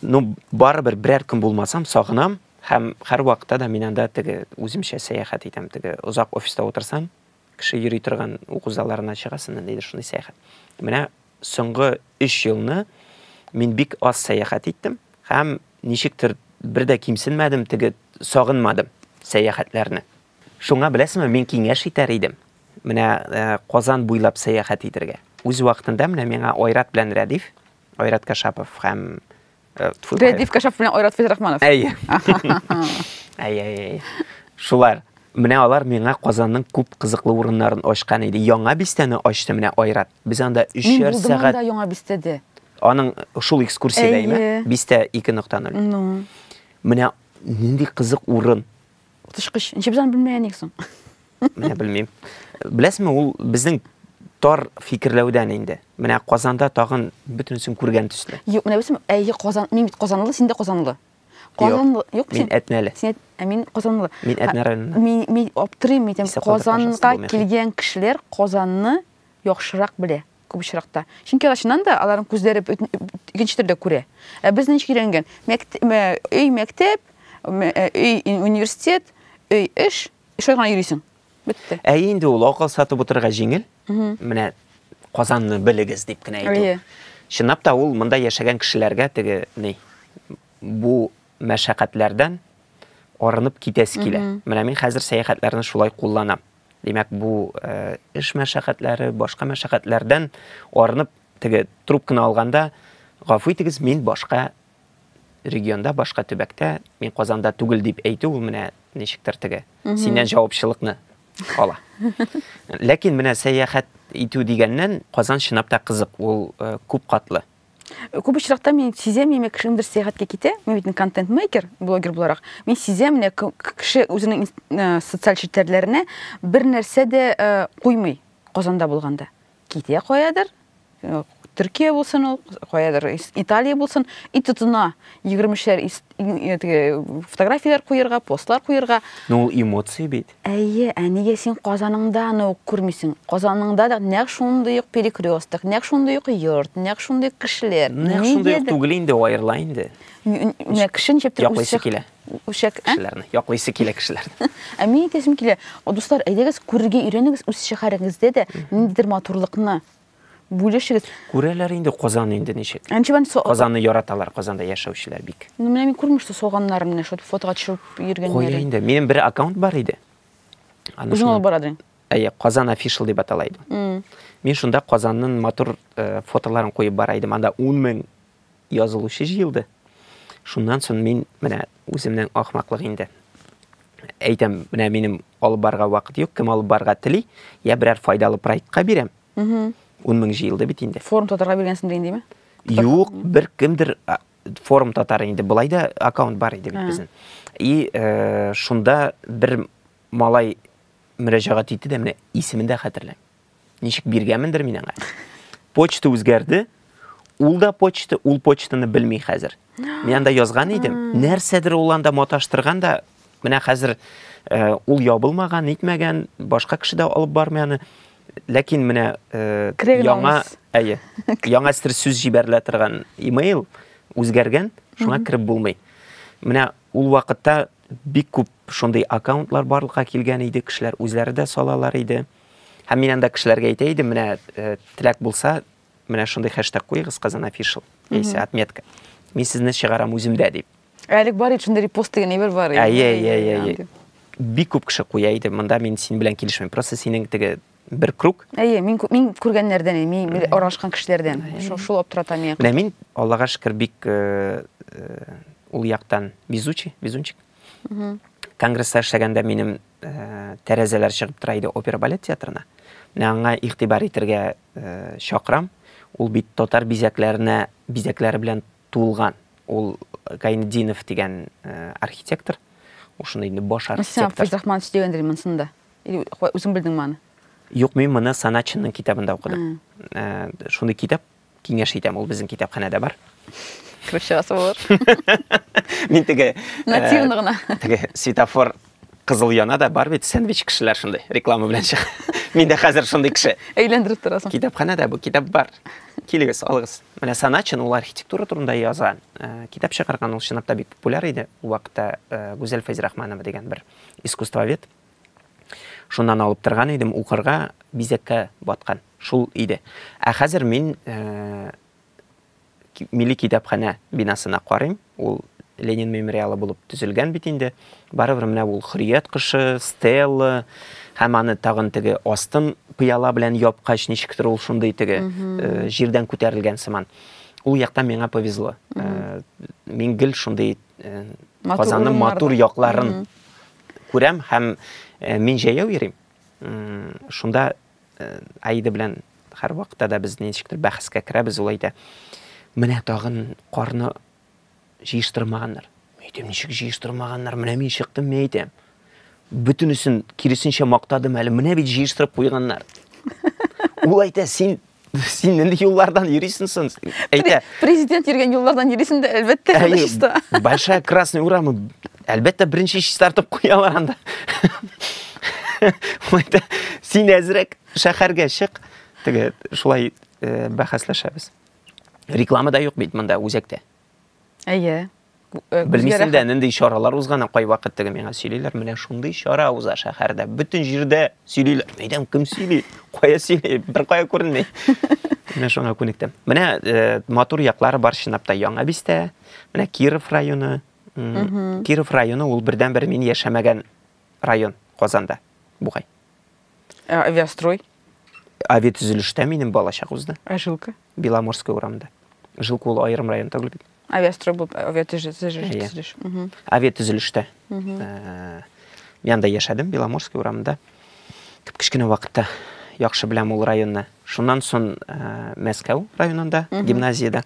ну барыбер берәр көн булмасам сагынам һәм һәрвакытта да мин анда теге үземчә сәяхәт итәм теге озак офиста утырсаң кеше йөри торган уку залларына чыгасың ниндидер шундый сәяхәт менә соңгы өч елны мин бик аз сәяхәт иттем һәм ничектер бер дә кимсенмәдем теге сагынмадым сәяхәтләрне шуңа беләсеңме мин киңәш итәр идем Менә э, Казан буйлап сәяхәт итергә. Үз вакытында менә миңа Айрат белән Рәдиф, Айрат Кашапов һәм э, Рәдиф Кашапов белән Айрат Фәйзрахманов. Әйе. Әйе, әйе. Шулар. Менә алар миңа Казанның күп кызыклы урыннарын ачкан иде. Яңа бистәне ачты менә Айрат. Без анда 3 сәгать. Мин булдым анда яңа бистәдә. Аның шул экскурсиядә име? Бистә 2.0. Ну. Менә нинди кызык урын. Утышкыч. Ничек без аны белмәгән идек соң? Менә белмим. Беләсезме, ул безнең тар фикерләүдән инде. Менә Казанда тагын бөтенесен күргән төсле. Юк, менә белсәм, әйе, Казан, мин бит Казанлы, син дә Казанлы. Казанлы, юк, мин Әтнәле. Син ә мин Казанлы. Мин Әтнә районыннан. Мин мин аптырыйм, мин Казанга килгән кешеләр Казанны яхшырак белә. күп очракта. Чөнки алар чыннан да аларның күзләре икенче төрдә күрә. Ә без ничек өйрәнгән? Өй мәктәп, өй университет, өй эш, шулай гына йөрисең. Бетте. Ә инде ул акыл сатып утырырга җиңел. Менә Казанны белегез дип кенә әйтү. Чынлап та ул монда яшәгән кешеләргә теге ни бу мәшәкатьләрдән арынып китәсе килә. Менә мин хәзер сәяхәтләрне шулай кулланам. Димәк, бу эш мәшәкатьләре, башка мәшәкатьләрдән арынып, теге трубканы алганда, гафу итегез, мин башка регионда, башка төбәктә, мин Казанда түгел дип әйтү, ул менә ничектер теге синнән җавапчылыкны ала. Ләкин менә сәяхәт итү дигәннән Казан чынлап та кызык, ул күп катлы. Күп очракта мин сизәм, яме кеше ниндер сәяхәткә китә, мин бит контент-мейкер, блогер буларак. Мин сизәм, менә кеше үзенең э, социаль челтәрләренә бер нәрсә дә э, куймый Казанда булганда. Китә каядыр, э, Төркия булсын ул, каядыр Италия булсын, и тотына 23-ләр фотографияләр куярга, постлар куярга. Ну, эмоции бит. Әйе, ә нигә син Казаныңда аны ук күрмисең? Казаныңда да нәкъ шундый ук перекресток, нәкъ шундый ук йорт, нәкъ шундый ук кешеләр. Нәкъ шундый ук түгел инде, аерыла инде. Менә кеше ничектер яклыйсы килә. Үсәк ә? Кешеләрне, яклыйсы килә кешеләрне. Ә мин әйтәсем килә, дуслар, әйдәгез күрергә өйрәнегез үз шәһәрегездә дә ниндидер матурлыкны. Бүлешегез. Күрәләр инде Казан инде ничек. Әнче бен со... Казанны яраталар, Казанда яшәүчеләр бик. Ну, менә мин күрмешсез соганнарым менә шул фотога төшереп йөргәннәре. Кое инде. Минем бер аккаунт бар иде. Үзең алып барадың. Әйе, Казан official дип атала иде. Мин шунда Казанның матур э, фотоларын куеп бара идем. Анда 10 мең язылучы җыелды. Шуннан соң мин менә үземнең ахмаклык инде. Әйтәм, менә минем алып барга вакыт юк, кем алып барга тели, я берәр файдалы проектка бирәм. Угу. 10 мең җыелды бит инде. Форум татарга биргәнсең дигән диме? Юк, бер кемдер форум татар инде. Былай да аккаунт бар иде бит безнең. И э, шунда бер малай мөрәҗәгать итте дә, менә исемен дә хәтерләмим. Ничек биргәмендер мин аңа. Почта үзгәрде. Ул да почта, ул почтаны белми хәзер. Мин анда язган идем. Нәрсәдер ул анда маташтырган да, менә хәзер э, ул ябылмаган, нитмәгән, башка кеше дә алып бармый аны. Ләкин менә э, Керәген яңа, алмас. әйе, яңа сер сүз җибәрелә торган имейл үзгәргән, шуңа кереп булмый. Менә ул вакытта бик күп шундый аккаунтлар барлыкка килгән иде, кешеләр үзләре дә салалар иде. Һәм мин анда кешеләргә әйтә идем, менә э, теләк булса, менә шундый хэштег куегыз Казан official, яисә отметка. Мин сезне чыгарам үземдә дип. Әлек бар ит шундый репост дигән әйбер бар. Ә, иә, иә, иә, иә. Бик күп кеше куя иде, монда мин син белән килешмим. Просто синең теге бер круг. Әйе, мин мин күргәннәрдән, мин аралашкан кешеләрдән. Шул шул аптырата миңа. Менә мин Аллага шөкер бик э, э, ул яктан везучий, везунчик. Конгресста эшләгәндә минем тәрәзәләр чыгып тора иде опера балет театрына. Менә аңа игътибар итәргә э, чакырам. Ул бит татар бизәкләренә бизәкләре белән тулган. Ул Гайнединов дигән э, архитектор. Ул шуны инде баш архитектор. Сән Фәйзрахманович дигәндер монсында. Или үзең белдеңме аны? Юк, мин моны Саначинның китабында укыдым. Э, шундый китап Киңәш итәм, ул безнең китапханәдә бар. Кереп чыгасы булыр. Мин теге нативно э, гына. Теге светофор кызыл яна да бар бит, сэндвич кешеләр шундый, реклама белән чыга. Мин дә хәзер шундый кеше. Әйләндереп торасың. Китапханәдә бу китап бар. Килегез, алыгыз. Менә Саначин ул архитектура турында яза. Э, китап чыгарган ул чынлап та бик популяр иде. Ул вакытта э, Гүзәл Фәйзрахманова дигән бер искусствовед Шуннан алып торган идем, укырга бизәккә баткан. Шул иде. Ә хәзер мин э, милли китапханә бинасына карыйм. Ул Ленин мемориалы булып төзелгән бит инде. Барыбер менә ул Хөррият кышы, Стелла һәм аны тагын теге астын пыяла белән япкач, ничектер ул шундый теге э, җирдән күтәрелгән сыман. Ул яктан миңа повезло. Э, мин гел шундый Казанның матур якларын күрәм һәм мин җәяү йөрим. Шунда Аида белән һәр вакытта да без ничектер бәхәскә керәбез ул әйтә. Менә тагын карны җыештырмаганнар. Әйтәм, ничек җыештырмаганнар? Менә мин чыктым, мин әйтәм. бөтенесен киресенчә мактадым әле менә бит җыештырып куйганнар ул әйтә син син нинди юллардан йөрисең соң әйтә президент йөргән юллардан йөрисең дә әлбәттә чиста большая красный урамы әлбәттә беренче чистартып куялар анда ул әйтә син әзрәк шәһәргә чык теге шулай э, бәхәсләшәбез рекламада юк бит монда үзәктә Әйе. Э, Белмисең дә, нинди чаралар узганы кайвакыт теге миңа сөйлиләр, менә шундый чара уза шәһәрдә. Бөтен җирдә сөйлиләр. Әйдәм, кем сөйли? Кая сөйли? Бер кая күренми. Менә шуңа күнектем. Менә э, матур яклары бар чынлап та Яңа Бистә, менә Киров районы. Киров районы ул бердән-бер мин яшәмәгән район Казанда бугай. Ә авиастрой? Авиатөзелештә минем балачак узды. Ә жилка? Беломорская урамда. Жилка ул аерым район түгел бит. Авиастрой булып авиатөзелеш. Авиатөзелештә. Ә, мин анда яшәдем, Беломорская урамда. Кеп кечкенә вакытта яхшы беләм ул районны. Шуннан соң ә, Мәскәү районында, гимназиядә.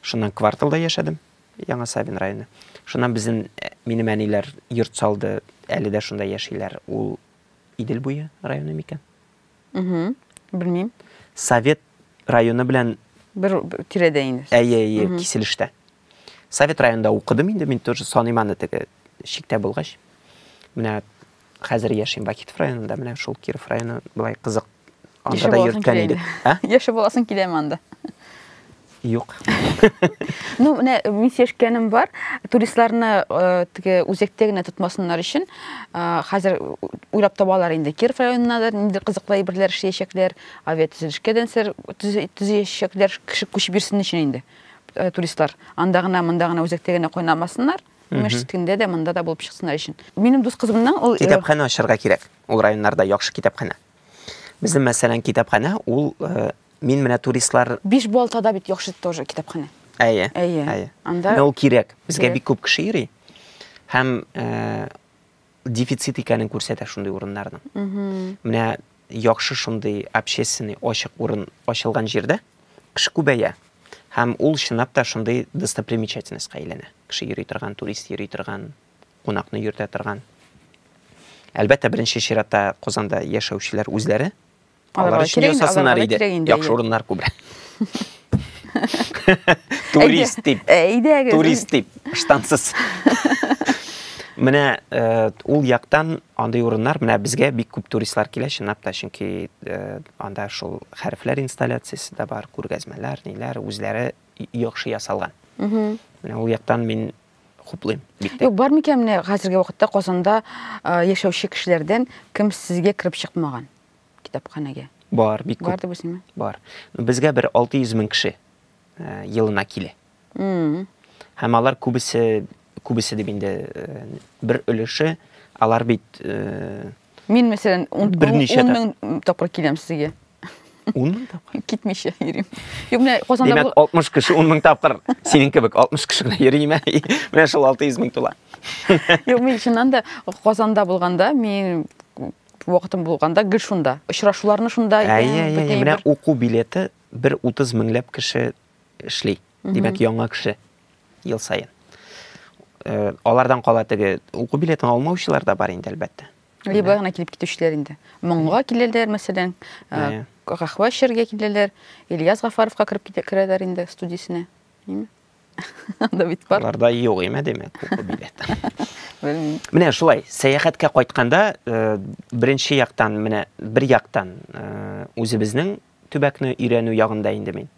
Шуннан кварталда яшәдем. Яңа Савин районы. Шуннан безнең, минем әниләр йорт салды, әле дә шунда яшиләр. Ул Идел буе районы микән? Угу. Белмим. Совет районы белән бер тирәдә инде. Әйе, әйе, киселештә. Совет районында укыдым инде, мин тоже саныйм аны теге чиктә булгач. Менә Хәзер яшим Бакитов районында, менә шул Киров районы былай кызык. Анда да йөрткән идек. Ә? Яшәп буласың киләме анда? Юк. ну, менә мин сешкәнем бар. Туристларны э, теге үзәктә генә тотмасыннар өчен э, хәзер уйлап табалар инде. Киров районында да нинди кызыклы әйберләр эшләячәкләр, авиатөзелешкә дәнсер төзәячәкләр, кеше күчеп йөрсен өчен инде э, туристлар. Анда гына, монда гына үзәктә генә кайнамасыннар. Имеш көндә дә монда да булып чыксыннар өчен. Минем дус кызымның ул Китапханә ачарга кирәк. Ул районнарда яхшы китапханә. Безнең мәсәлән китапханә ул э, мин менә туристлар Биш балтада бит яхшы тоже китапханә. Әйе. Әйе. Анда Менә ул кирәк. Безгә Кирәк. бик күп кеше йөри. Һәм э, дефицит икәнен күрсәтә шундый урыннарның. Менә яхшы шундый общественный ачык урын ачылган җирдә кеше күбәя. Һәм ул чынлап та шундый достопримечательностька әйләнә. Кеше йөри торган, турист йөри торган, кунакны йөртә торган. Әлбәттә, беренче чиратта Казанда яшәүчеләр үзләре Алар өчен ясасыннар иде. Яхшы урыннар күбрәк. Турист дип. Әйдәгез. Турист дип. Штансыз. Менә э, ул яктан андый урыннар менә безгә бик күп туристлар килә чынлап та, чөнки э, анда шул хәрефләр инсталляциясе дә бар, күргәзмәләр, ниләр, үзләре яхшы ясалган. Менә ул яктан мин хуплыйм. Юк, бар микән менә хәзерге вакытта Казанда э, яшәүче кешеләрдән кем сезгә кереп чыкмаган? китапханәгә? Бар, бик күп. Бар дип уйлыйсыңмы? Бар. Безгә бер 600 мең кеше э, елына килә. Һәм алар күбесе, күбесе дип инде э, бер өлеше, алар бит... Э, Мин, мәсәлән, 10 мең тапкыр киләм сезгә. 10 мең тапкыр? Китмичә йөрим. Юк, менә Казанда... Димәк, 60 кеше 10 мең тапкыр синең кебек 60 кеше генә йөриме? Менә шул 600 мең тула. Юк, мин чыннан да Казанда булганда, мин вакытым булганда гел шунда. Очрашуларны шунда итәм. Әйе, әйе, әйе. Менә уку билеты бер 30 меңләп кеше эшли. Димәк, яңа кеше ел саен. Э, алардан кала теге уку билетын алмаучылар да бар инде, әлбәттә. Либо гына килеп китүчеләр инде. Моңга киләләр, мәсәлән, кахва эчәргә киләләр, Ильяс Гафаровка кереп китә керәләр инде студиясенә. Анда бит бар. Аларда юк име димәк, купа билет. Белмим. Менә шулай, сәяхәткә кайтканда, э, беренче яктан, менә бер яктан э, үзебезнең төбәкне өйрәнү ягында инде мин.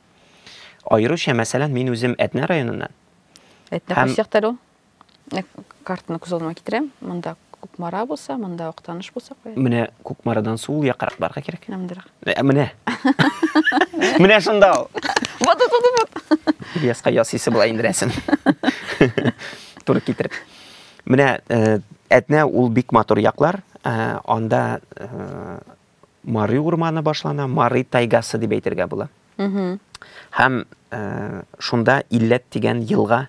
Аеруча, мәсәлән, мин үзем Әтнә районыннан. Әтнә Һәм- кайсы якта әле ул? картаны күз алдыма китерәм монда кукмара булса монда актаныш булса куярбыз менә кукмарадан сул якрак барырга кирәк нандырак ә, менә менә шунда ул вот вот вот вот ильяска ясыйсы була инде рәсем туры китереп менә э, әтнә ул бик матур яклар э, анда э, мары урманы башлана мары тайгасы дип әйтергә була һәм шунда илләт дигән елга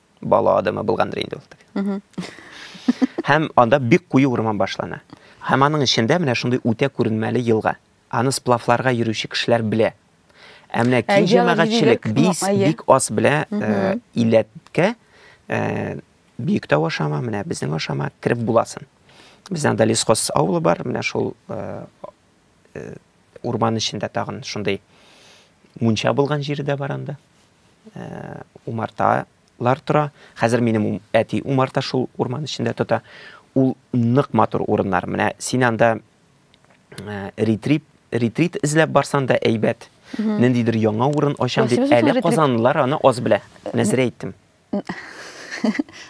бала адымы булгандыр инде ул. Һәм анда бик куе урман башлана. Һәм аның эчендә менә шундый үтә күренмәле елга. Аны сплавларга йөрүче кешеләр белә. Ә менә киң җәмәгатьчелек бик бик аз белә э, иләткә э, бөек тау ашама, менә безнең ашама кереп буласын. Бездә анда Лесхоз авылы бар, менә шул э, э, урман эчендә тагын шундый мунча булган җире дә бар анда э, умарталар тора хәзер минем әти умарта шул урман эчендә тота ул нык матур урыннар менә син анда э, ретрит ретрит эзләп барсан да әйбәт ниндидер яңа урын ачам дип әле казанлылар аны аз белә нәзерә әйттем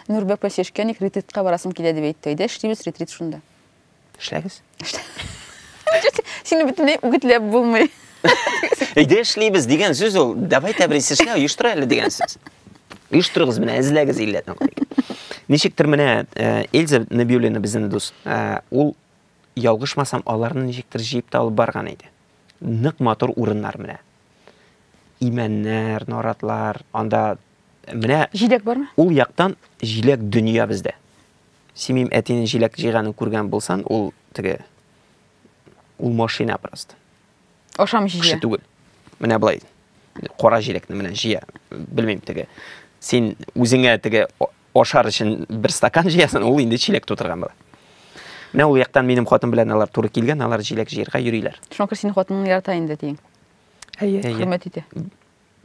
нурбәк белән шешкәник ретритка барасың килә дип әйтте әйдә эшлибез ретрит шунда Эшләгез. Сине бөтенләй үгетләп булмый. Әйдә эшлибез дигән сүз ул. Давай тәбрис эшлә, оештыра әле дигән сүз. Оештырыгыз менә, эзләгез илләтен. Ничектер менә э, Эльза Набиуллина безнең дус. Э, ул ялгышмасам, аларны ничектер җыеп та алып барган иде. Нык матур урыннар менә. Имәннәр, наратлар, анда менә Җиләк бармы? Ул яктан җиләк дөнья бездә. Симим әтинең җиләк җыйганын күргән булсан, ул теге ул машина просто. Ашамчы җыя. Кеше түгел. Менә болай. Кара җиләкне менә җыя. Белмим теге. Син үзеңә теге ашар өчен бер стакан җыясың, ул инде чиләк тутырган була. Менә ул яктан минем хатын белән алар туры килгән, алар җиләк җыярга йөриләр. Шуңа күрә синең хатының ярата инде диң. Әйе, әйе. Хөрмәт итә.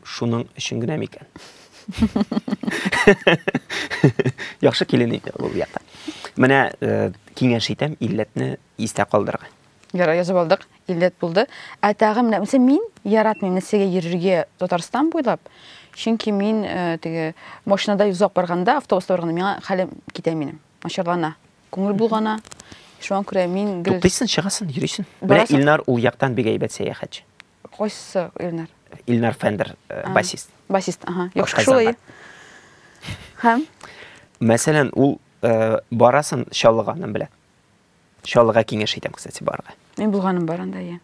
шуның өчен генә микән? Яхшы килен икән ул якта. Менә э, киңәш итәм, илләтне истә калдырырга. Яра язып алдык, илләт булды. Ә тагы менә мисә мин яратмыйм нәрсәгә йөрергә Татарстан буйлап. Чөнки мин э, теге машинада узак барганда, автобуста барганда миңа хәлем китә минем. Начарлана. Күңел булгана. Шуңа күрә мин гел Туктыйсын, чыгасын, йөрисен. Менә Илнар ул яктан бик әйбәт сәяхәтче. Кайсы Илнар? Илнар Фендер, э, А. басист. Басист, ага. Яхшы Кытай шулай. сәнгать. Һәм Мәсәлән, ул э, барасын Чаллыганнан белә. Чаллыга киңәш итәм, кстати, барырга. мин булганым бар анда, я.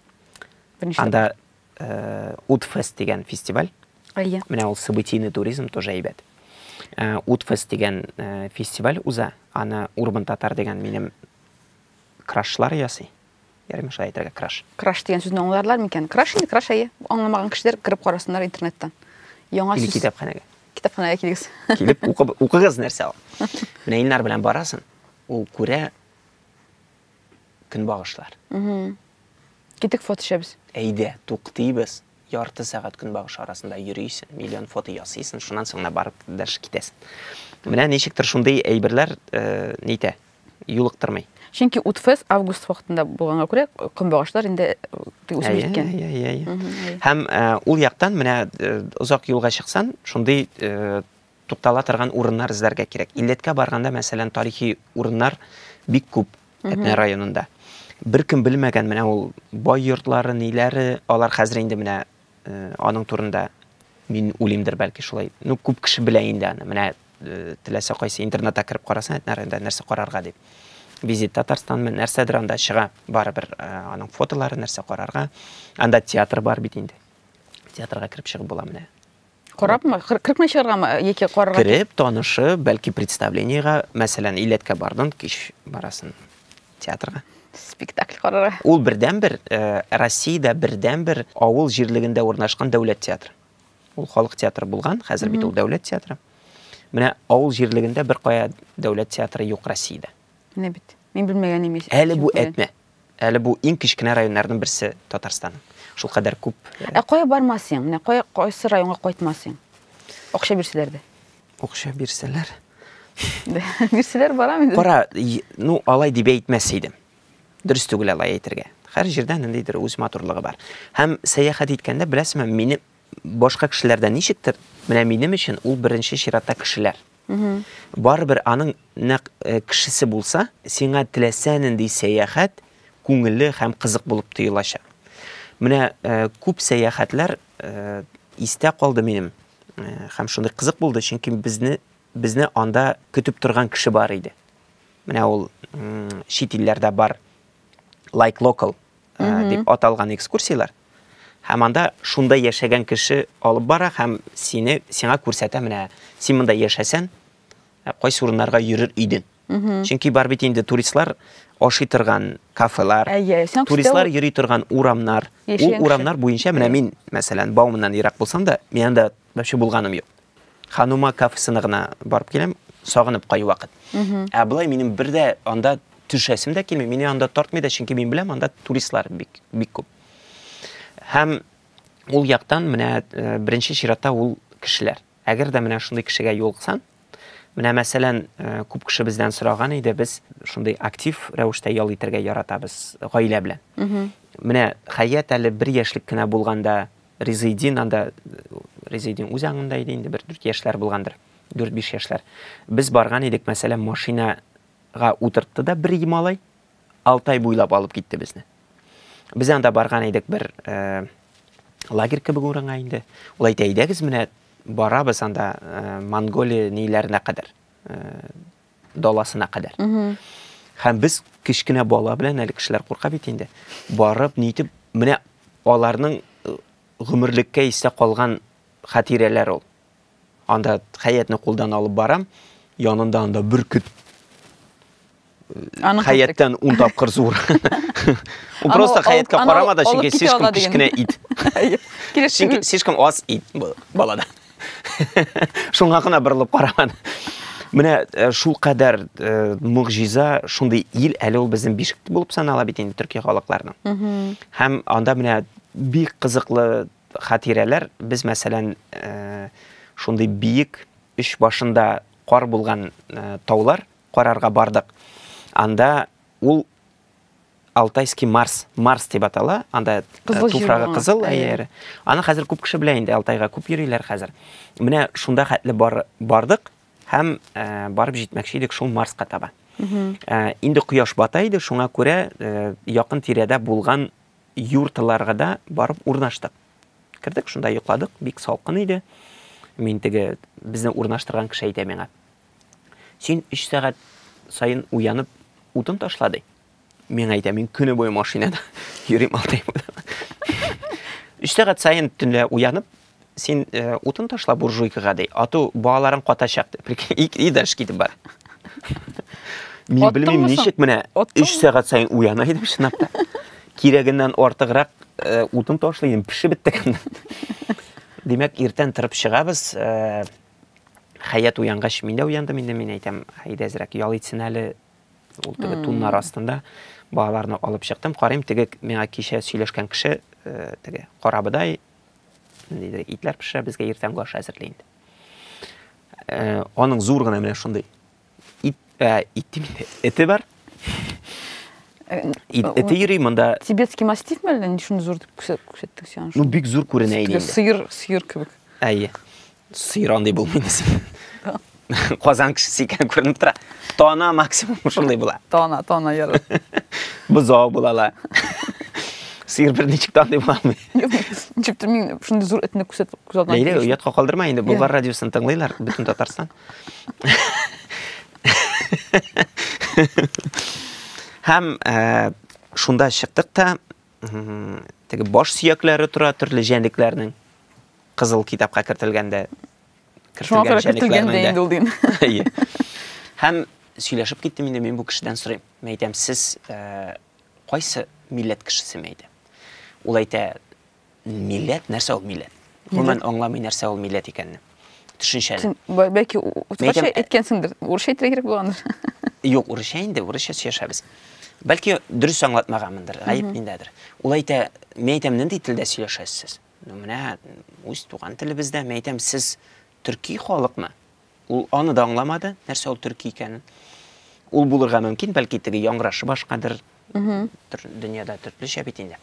Беренче. Анда э, Утфест дигән фестиваль. тапкыр. Әйе. Менә ул событийный туризм тоже әйбәт. Э, Утфест дигән э, фестиваль уза. Аны Урбан Татар дигән минем крашлар ясый. Ярыймы шулай әйтергә краш? Краш дигән сүзне аңларлар микән? Краш инде краш әйе. Аңламаган кешеләр кереп карасыннар интернеттан. Яңа сүз. Или китапханәгә. Китапханәгә килегез. Килеп укып укыгыз нәрсә ул. Менә Илнар белән барасың, ул күрә көнбагышлар. Китик фото төшәбез. Әйдә, туктыйбыз. Ярты сәгать көнбагыш арасында йөрисең, миллион фото ясыйсың, шуннан соң барып дальше китәсең. Менә ничектер шундый әйберләр э, нитә, юлыктырмый. Чөнки Утфест август вакытында булганга күрә, көнбагышлар инде үсеп җиткән. Әйе, әйе, әйе. Һәм ул яктан менә озак юлга чыксан, шундый туктала торган урыннар эзләргә кирәк. Илләткә барганда, мәсәлән, тарихи урыннар бик күп Әтнә районында. Беркем белмәгән менә ул бай йортлары, ниләре, алар хәзер инде менә Аның турында мин үлимдер бәлки шулай. Ну, күп кеше белә инде аны. Менә теләсә кайсы интернетта кереп карасын, әйтнә районда нәрсә карарга дип. Визит Татарстан мен нәрсәдер анда чыга. Бары бер аның фотолары нәрсә карарга. Анда театр бар бит инде. Театрга кереп чыгып була менә. Корабмы? Кырыкмы чыгаргамы яки карарга? Кереп, танышып, бәлки представлениега, мәсәлән, Иләткә бардың, кич барасын театрга. Спектакль карарга. Ул бердәнбер э, Россиядә бердәнбер авыл җирлегендә урнашкан дәүләт театры. Ул халык театры булган, хәзер бит ул дәүләт театры. Менә авыл җирлегендә бер кая дәүләт театры юк Россиядә. Менә бит. Мин белмәгән имеш. Әле бу әтнә. Әле бу иң кечкенә районнарның берсе Татарстанның. Шул кадәр күп. Э, ә кая бармасың? Менә кая кайсы районга кайтмасың? Акча бирсәләр дә. Акча бирсәләр. Бирсәләр барам инде. Кара, ну алай дип әйтмәс идем. Дөрес түгел алай әйтергә. Һәр җирдә ниндидер үз матурлыгы бар. Һәм сәяхәт иткәндә беләсезме, мине башка кешеләрдән ничектер, менә минем өчен ул беренче чиратта кешеләр. Барыбер аның нәкъ кешесе булса, сиңа теләсә нинди сәяхәт күңелле һәм кызык булып тоелачак. Менә күп сәяхәтләр истә калды минем һәм шундый кызык булды, чөнки безне безне анда көтеп торган кеше бар иде. Менә ул чит илләрдә бар Like Local дип аталган экскурсияләр. Һәм анда шунда яшәгән кеше алып бара һәм сине сиңа күрсәтә, менә син монда яшәсән, кайсы урыннарга йөрер идең. Чөнки бар бит инде туристлар ашый торган кафелар, туристлар йөри торган урамнар, ул урамнар буенча менә мин, мәсәлән, Бауманнан ерак булсам да, мин анда Вообще булганым юк. Ханума кафесына гына барып киләм, сагынып кайвакыт. Ә болай минем бер дә анда төшәсем дә килми, мине анда тартмый да, чөнки мин беләм, анда туристлар бик бик күп. Һәм ул яктан менә э, беренче чиратта ул кешеләр. Әгәр дә менә шундый кешегә юлыксаң, менә мәсәлән, э, күп кеше бездән сораган иде, без шундый актив рәвештә ял итәргә яратабыз гаилә белән. Менә хәят әле бер яшьлек кенә булганда Резейдин анда, Резейдин үз аңында иде инде, бер дүрт яшьләр булгандыр, дүрт-биш яшьләр. Без барган идек, мәсәлән, машинага утыртты да бер малай, Алтай буйлап алып китте безне. Без анда барган идек бер э, лагерь кебек урынга инде. Ул әйтә, әйдәгез менә барабыз анда э, Монголия ниләренә кадәр. Э, даласына кадәр. Һәм без кечкенә бала белән әле кешеләр курка бит инде. Барып, нитеп, менә аларның э, гомерлеккә истә калган хатирәләр ул. Анда хәятны кулдан алып барам, янында анда бөркет Аны хәяттан ун тапкыр зур. Ул просто хәятка карамады, чөнки слишком кечкенә ит. Чөнки слишком аз ит балада. Шуңа гына борылып караган. Менә э, шул кадәр э, мөгъҗиза, шундый ил әле ул безнең бишек булып санала бит инде төрки халыкларның. Һәм анда менә бик кызыклы хатирәләр. Без, мәсәлән, э, шундый биек өч башында кар булган таулар карарга бардык. Анда ул Алтайский Марс, Марс дип атала, анда кызыл туфрагы кызыл, әйе. Аны хәзер күп кеше белә инде, Алтайга күп йөриләр хәзер. Менә шунда хәтле бар, бардык һәм ә, барып җитмәкче идек шул Марска таба. Ә, инде кояш бата иде, шуңа күрә ә, якын тирәдә булган юртларга да барып урнаштык. Кердек, шунда йокладык, бик салкын иде. Мин теге безне урнаштырган кеше әйтә миңа. Син өч сәгать саен уянып утын ташла ди. Миңа әйтә, мин көне буе машинада йөрим алтай Өч сәгать саен төнлә уянып, син э, утын ташла буржуйкага ди. Ату балаларың катачак ди. Прикинь, и, и даже китеп бар. Мин Аттыңмы белмим, соң? ничек менә Аттыңмы? өч сәгать саен уяна идем чынлап та. Кирәгеннән артыграк э, утын ташлый идем, пешеп беттек. Димәк, иртән торып чыгабыз. э, Хәят уянгач, мин дә уяндым инде, мин әйтәм, әйдә әзрәк ял итсен әле. Ул теге туннар астында балаларны алып чыктым. Карыйм, теге миңа кичә сөйләшкән кеше, э, теге карабыдай, ниндидер итләр пешерә, безгә иртәнге аш әзерли инде. Э, аның зур гына менә шундый Ит, ә, ит дим, эте бар. Э, ит, э, эте йөри монда. Тибетский мастиф мәллә ни шуны зур дип күрсәттек сиңа. Ну бик зур күренә иде. Сыер, сыер кебек. Әйе. Сыер андый булмыйды. Казан кешесе икән күренеп тора. Тона максимум шундый була. Тона, тона яры. Бозау булала. сыйыр бер ничек таңдый була алмый ничектер мин шундый зур этне күрсәтеп күз алдына ләйлә оятка калдырма инде болгар радиосын тыңлыйлар бөтен татарстан Һәм э, шунда чыктык та, теге баш сөякләре тора төрле җәнлекләрнең кызыл китапка кертелгәндә Шуңа күрә кертелгәндә инде ул дин. Һәм сөйләшеп киттем инде мин бу кешедән сорыйм. Мин әйтәм, сез э, кайсы милләт кешесеме әйтә? Ул әйтә, милләт нәрсә ул милләт гомумән аңламый нәрсә ул милләт икәнне төшенчәне бәлки урысча э, әйткәнсеңдер урысча әйтергә кирәк булгандыр юк урысча инде урысча сөйләшәбез бәлки дөрес аңлатмаганмындыр гаеп миндәдер ул әйтә мин әйтәм нинди телдә сөйләшәсез менә үз туган телебездә мин әйтәм сез төрки халыкмы? Ул аны да аңламады, нәрсә ул төрки икәнен. Ул булырга мөмкин, бәлки теге яңгырашы башкадыр. Дөньяда төрлечә бит инде.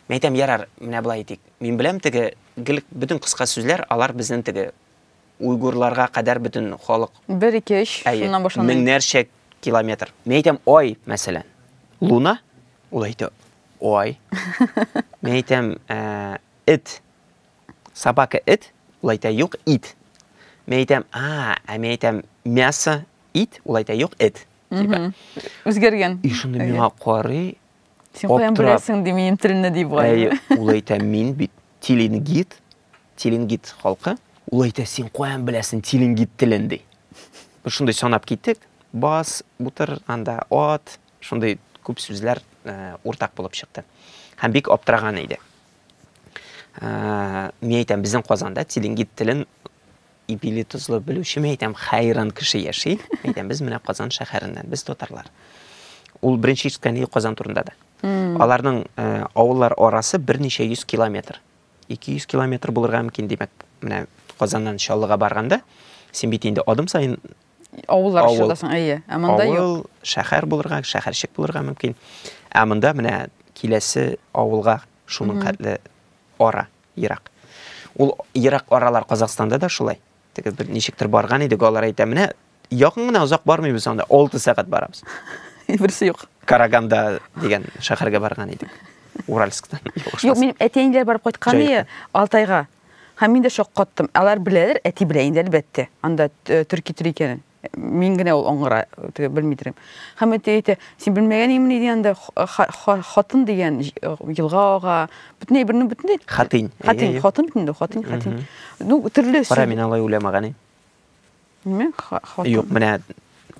Мин әйтәм, ярар, менә болай итик. Мин беләм теге гел бөтен кыска сүзләр, алар безнең теге уйгурларга кадәр бөтен халык. Бер ике өч шуннан башлана. Меңнәрчә километр. Мин әйтәм, ай, мәсәлән, луна, ул әйтә, ай. Мин әйтәм, эт, Собака эт, ул әйтә, юк, ит. Мин әйтәм, а, ә мин әйтәм, мясо ит, ул әйтә, юк, эт. Типа. Үзгәргән. И шуны миңа карый. Син каян беләсең ди минем телне ди бугай. Әй, ул әйтә, мин бит тилингит, тилингит халкы. Ул әйтә, син каян беләсең тилингит телен ди. Шундый санап киттек. Бас, бутыр, анда ат, шундый күп сүзләр э, уртак булып чыкты. Һәм бик аптыраган иде. ә, мин әйтәм безнең казанда тилингит телен ипили тозлы белүче мин әйтәм хайран кеше яши әйтәм без менә казан шәһәреннән без татарлар ул беренче ишеткәне казан турында да аларның ә, авыллар арасы берничә йөз километр 200 километр булырга мөмкин димәк менә казаннан чаллыга барганда син бит инде адым сайын Авыллар Авыл. чыгасың, әйе. Ә монда юк. Авыл, шәһәр булырга, шәһәрчек булырга мөмкин. Ә монда менә киләсе авылга шуның хәтле ара, ерак. Ул ерак аралар Казахстанда да шулай. Теге бер ничектер барган идек, алар әйтә, менә якын гына озак бармыйбыз анда, 6 сәгать барабыз. Берсе юк. Караганда дигән шәһәргә барган идек. Уральсктан. Юк, минем әти-әниләр барып кайткан Җай ие, Алтайга. Һәм мин дә шаккаттым. Алар беләләр, әти белә инде әлбәттә. Анда э, төрки тел икәнен. Мин генә ул аңгыра теге белмидерем. Һәм әти әйтә, син белмәгән имени диде анда хатын дигән э, елга ага. Бөтен әйберне бөтен Хатын. Хатын, хатын бит инде, хатын, хатын. Ну, төрле. Кара, мин алай уйламаган идем. неме юк менә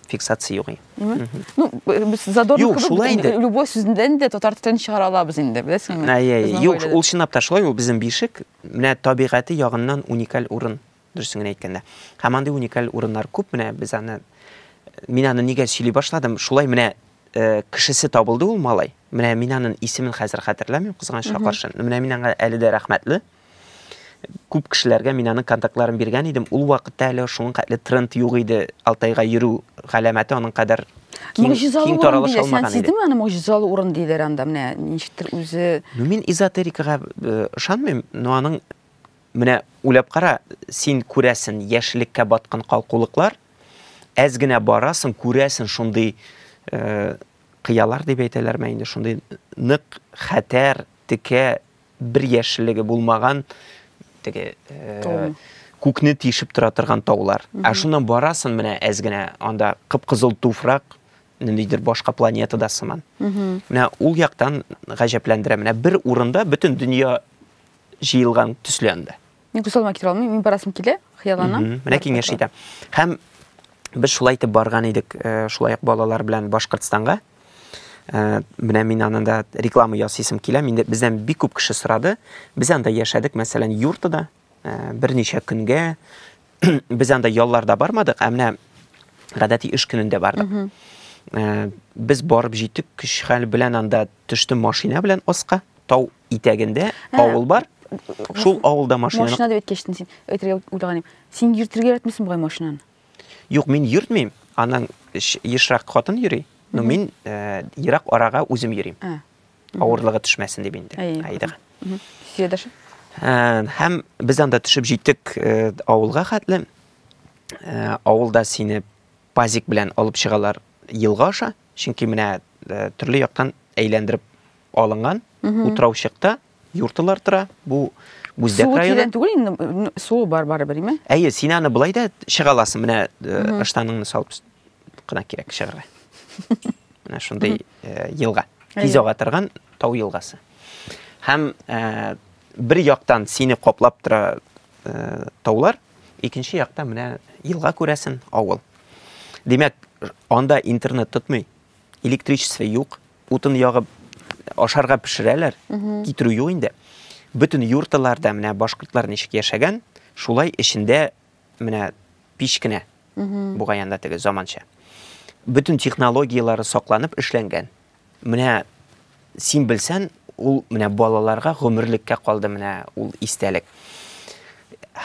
фиксация юк неме ну без задорник кебек любой сүздән дә татар телен чыгара алабыз инде беләсеңме әйе юк ул чынлап та шулай ул безнең бишек менә табигате ягыннан уникаль урын дөресен генә әйткәндә һәм андый уникаль урыннар күп менә без аны мин аны нигә сөйли башладым шулай менә э, кешесе табылды ул малай менә мин аның исемен хәзер хәтерләмим кызганычка каршы менә мин аңа әле дә рәхмәтле Күп кешеләргә мин аның контактларын биргән идем. Ул вакытта әле шуның хәтле тренд юк иде. Алтайга йөрү галәмәте аның кадәр киң, киң таралыш алмаган иде. Сиздеме аны могҗизалы урын диләр анда менә ничектер үзе. Ну мин эзотерикага э, ышанмыйм, но аның менә уйлап кара, син күрәсен яшелеккә баткан калкулыклар, әз генә барасың, күрәсен шундый э, кыялар дип әйтәләрме инде, шундый нык хәтәр, текә бер яшеллеге булмаган теге э, күкне тишеп тора торган таулар. Ә шуннан барасын менә әз генә анда кып-кызыл туфрак, ниндидер башка планетада сыман. Менә ул яктан гаҗәпләндерә. Менә бер урында бөтен дөнья җыелган төсле анда. Мин күз алдыма китерә алмыйм, мин барасым килә, хыялланам. Менә киңәш итәм. Һәм без шулай итеп барган идек, э, шулай ук балалар белән Башкортстанга. Ә, менә мин анында реклама ясыйсым килә. Миндә бездән бик күп кеше сорады. Без анда яшәдек, мәсәлән, юртада ә, берничә көнгә. Без анда ялларда бармадык, ә менә гадәти эш көнендә бардык. Ә, без барып җиттек, көч хәл белән анда төштем машина белән аска. Тау итәгендә авыл бар. Шул авылда машина. Машина дип әйткәчтен син, әйтергә уйлаганым. Син йөртергә яратмыйсың бугай машинаны. Юк, мин йөртмим. Аның ешрак хатын йөри. Но мин э, ерак арага үзем йөрим. Ә. Авырлыгы төшмәсен дип инде. Әй, Айдыга. Мгм. Сиз дәшә? Ә, Һәм без анда төшеп җиттек э, авылга хәтле. Ә, Авылда сине пазик белән алып чыгалар елга аша, чөнки менә э, төрле яктан әйләндереп алынган утраучыкта Юртылар тора. Бу Бүздәк Суы районы. тирән түгел инде, н- суы бар барыбер, име? Әйе, син аны былай да чыга аласың. Менә э, ыштаныңны салып с- кына кирәк чыгарга. Менә шундый э, елга. Тиз Әйе. ага торган тау елгасы. Һәм э, бер яктан сине каплап тора э, таулар, икенче якта менә елга күрәсен, авыл. Димәк, анда интернет тотмый, электричество юк, Утын ягып ашарга пешерәләр, китерү юк инде. Бөтен юрталарда менә башкортлар ничек яшәгән, шулай эчендә менә пич кенә. Бугай анда теге заманча. Бөтен технологияләре сакланып эшләнгән. Менә син белсән, ул менә балаларга гомерлеккә калды менә ул истәлек.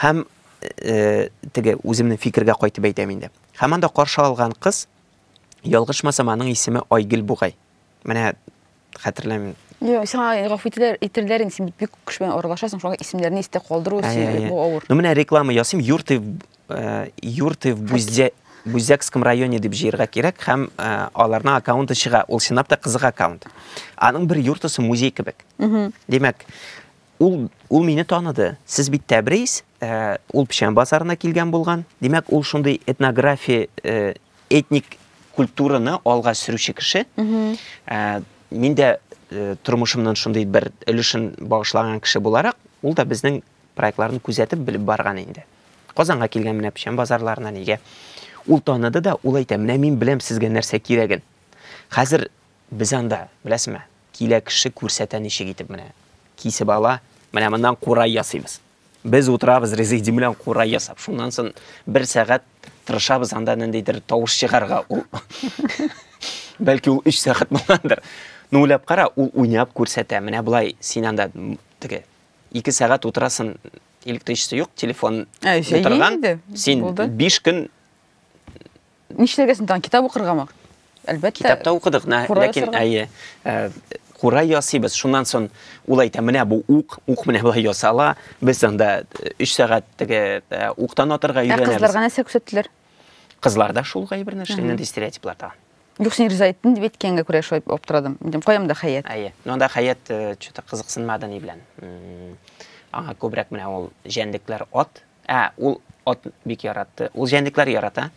Һәм э, теге үземнең фикергә кайтып әйтәм инде. Һәм анда каршы алган кыз Ялгышмасам, аның исеме Айгөл бугай. Менә хәтерләмим. Юк, сиңа гафу ителер, ителерләр инде, син бит бик күп белән аралашасың, шуңа исемнәрне истә калдыру өчен бу авыр. Ну менә реклама ясыйм, Юрты э, Юрты в Буздя Бузякском районе дип җыярга кирәк һәм э, аларның аккаунты чыга. Ул чынлап та кызык аккаунт. Аның бер юртысы музей кебек. Димәк, ул ул мине таныды. Сез бит Тәбриз, э, ул Печән базарына килгән булган. Димәк, ул шундый этнография э, Этник культураны алга сөрүче кеше. Ә, мин дә э, тормышымның шундый бер өлешен багышлаган кеше буларак, ул да безнең проектларны күзәтеп белеп барган инде. Казанга килгән менә печән базарларына нигә? Ул таныды да, ул әйтә, менә мин беләм сезгә нәрсә кирәген. Хәзер Без анда, беләсеңме, килә кеше күрсәтә ничек итеп менә кисеп ала, менә моннан курай ясыйбыз. Без утырабыз резидим белән курай ясап. Шуннан соң бер сәгать тырышабыз анда ниндидер тавыш чыгарга. Ул бәлки ул 3 сәгать булгандыр. Ну уйлап кара, ул уйнап күрсәтә. Менә болай син анда теге 2 сәгать утырасын, электричество юк, телефон утырган. Син 5 көн Нишләргә син тагын китап укыргамы? Әлбәттә. Китапта укыдык, нә, ләкин әйе, э, кура ясыйбыз. Шуннан соң ул әйтә, менә бу ук, ук менә болай ясала. Без анда 3 э, сәгать теге э, уктан атырга өйрәнәбез. Ә кызларга нәрсә күрсәттеләр? Кызлар да шул гай бер нәрсә, нинди стереотиплар тагын. Юк, син риза иттең дип әйткәнгә күрә шулай аптырадым. Дим, каям да хәят. Әйе. Ну анда хәят что-то кызыксынмады ни белән. Аңа күбрәк менә ул җәнлекләр ат, Ә, ул ат бик яратты. Ул җәнлекләр ярата.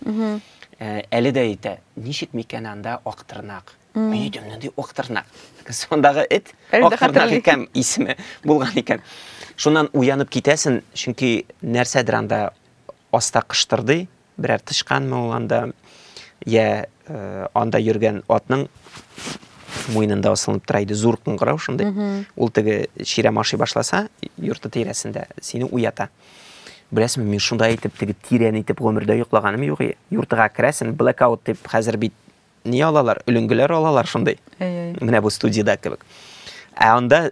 Ә, әле дә әйтә, ничек микән анда актырнак? Мин әйтәм, нинди актырнак? Сондагы эт актырнак икән исеме булган икән. Шуннан уянып китәсен, чөнки нәрсәдер анда аста кыштырдый, Берәр тычканмы ул анда, йә анда йөргән атның муенында асылынып тора иде зур кыңгырау шундый ул теге чирәм ашый башласа йорты тирәсендә сине уята беләсеңме мин шунда итеп теге тирән итеп гомердә йоклаганым юк йортыга керәсең блэкаут дип хәзер бит ни алалар өлеңгеләр алалар шундый менә бу студияда кебек ә анда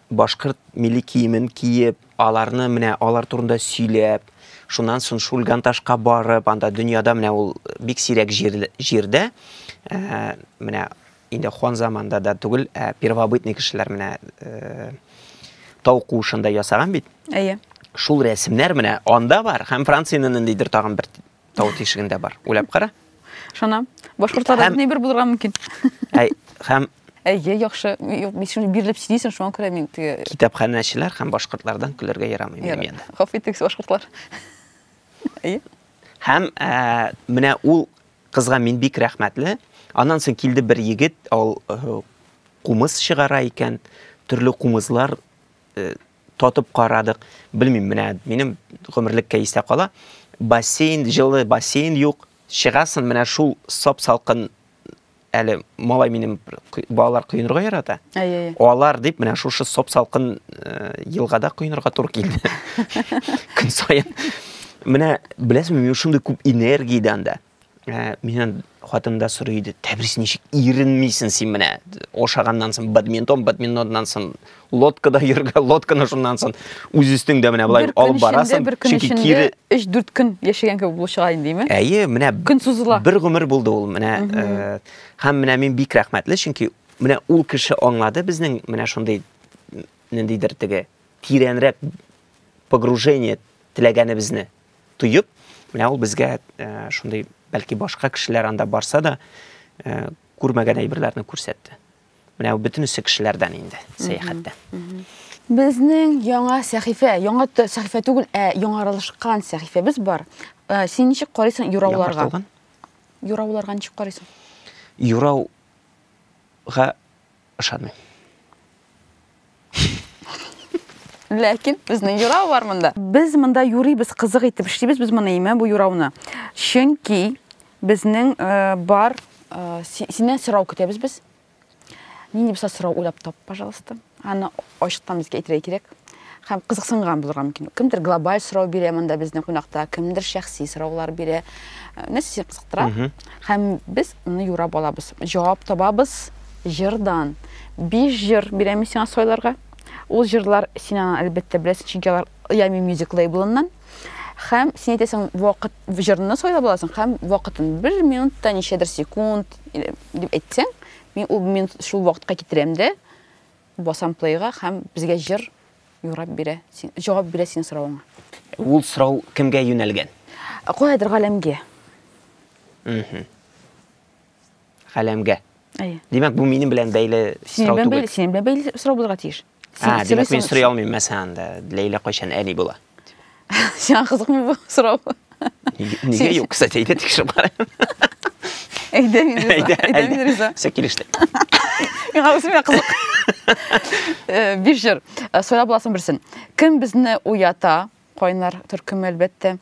башкорт милли киемен киеп, аларны менә алар турында сөйләп, шуннан сон Шульганташка барып, анда дөньяда менә ул бик сирәк җир, җирдә, ә, менә инде хан заманда да түгел, ә первобытный кешеләр менә ә, тау куышында ясаган бит. Әйе. Шул рәсемнәр менә анда бар, һәм Франциянең ниндидер тагын бер Тау тишегендә бар. Уйлап кара. Шана. Башкортларда Һәм... бер булырга мөмкин. Әй, һәм Әйе, яхшы. Юк, мин шуны бирелеп сөйлисең, шуңа күрә мин теге Китапханәчеләр һәм башкортлардан көләргә ярамый минем янда. Хаф итегез, башкортлар. Әйе. Һәм ә, менә ул кызга мин бик рәхмәтле. Аннан соң килде бер егет, ул э, кумыс чыгара икән, төрле кумызлар э, Татып карадык. Белмим, менә минем гомерлек кәестә кала. Бассейн, җылы бассейн юк. Чыгасын менә шул сап салкын әле малай минем балалар коенырга ярата. Алар дип менә шушы сап салкын э, елгада коенырга туры килде. Көн саен. Менә беләсезме, мин шундый күп энергиядән дә Ә, миннән хатын да сорый иде, тәбрис ничек иренмисен син менә? Ошаганнан соң бадминтон, бадминтоннан соң лодкада йөргә, лодканы шуннан соң үз өстеңдә менә болай алып барасың. Бер көн эчендә, кире... 3-4 көн яшәгән кебек булып чыга инде, димме? Әйе, менә көн сузыла. Бер гомер булды ул менә. Э, һәм менә мин бик рәхмәтле, чөнки менә ул кеше аңлады безнең менә шундый ниндидер теге тирәнрәк погружение теләгәнебезне. тоеп, менә ул безгә шундый, бәлки башка кешеләр анда барса да, күрмәгән әйберләрне күрсәтте. Менә ул бөтенесе кешеләрдән инде сәяхәттә. Безнең яңа сәхифә, яңа сәхифә түгел, ә яңарылышкан сәхифәбез бар. Син ничек карыйсың юрауларга? Юрауларга ничек карыйсың? Юрауга Ышанмыйм. Ләкин безнең юрау бар монда. Без монда юрыйбыз, кызык итеп эшлибез без моны имә бу юрауны. Чөнки безнең э, бар э, синнән сорау көтәбез без. Нинди булса сорау уйлап тап, пожалуйста. Аны Ачыктан безгә әйтергә кирәк һәм кызыксынган булырга мөмкин. Кемдер глобаль сорау бирә монда безнең кунакта, кемдер шәхси сораулар бирә. Э, нәрсә сине кызыктыра? Һәм без аны юрап алабыз. Җавап табабыз җырдан. Биш җыр бирәм сиңа сайларга. Ул җырлар син аны әлбәттә беләсең, чөнки алар Yummy Music лейблыннан. Һәм син әйтәсең, вакыт җырны сайлап аласың һәм вакытын бер минутта ничәдер секунд дип әйтсәң, мин ул минут шул вакытка китерәм дә Басам плейга һәм безгә җыр юрап бирә, җавап бирә синең соравыңа. Ул сорау кемгә юнәлгән? Каядыр галәмгә. Галәмгә. Әйе. Димәк, бу минем белән бәйле сорау түгел. Синең белән бәйле сорау булырга тиеш. Ә, димәк, мин сорый алмыйм мәсәлән, Ләйлә кайчан әни була? Сиңа кызыкмы бу сорау? Нигә юк, кстати, әйдә тикшереп карайым. Әйдә мин риза. Әйдә, әйдә мин риза. Все килеште. Миңа үземә кызык. Э, биш җыр. Э, Сайлап буласын берсен. Кем безне уята? Кайнар төркеме әлбәттә.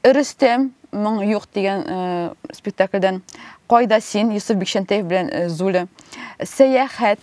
Рөстәм моң юк дигән э, спектакльдән. Кайда син? Юсуф Бикчәнтәев белән Зуля. Сәяхәт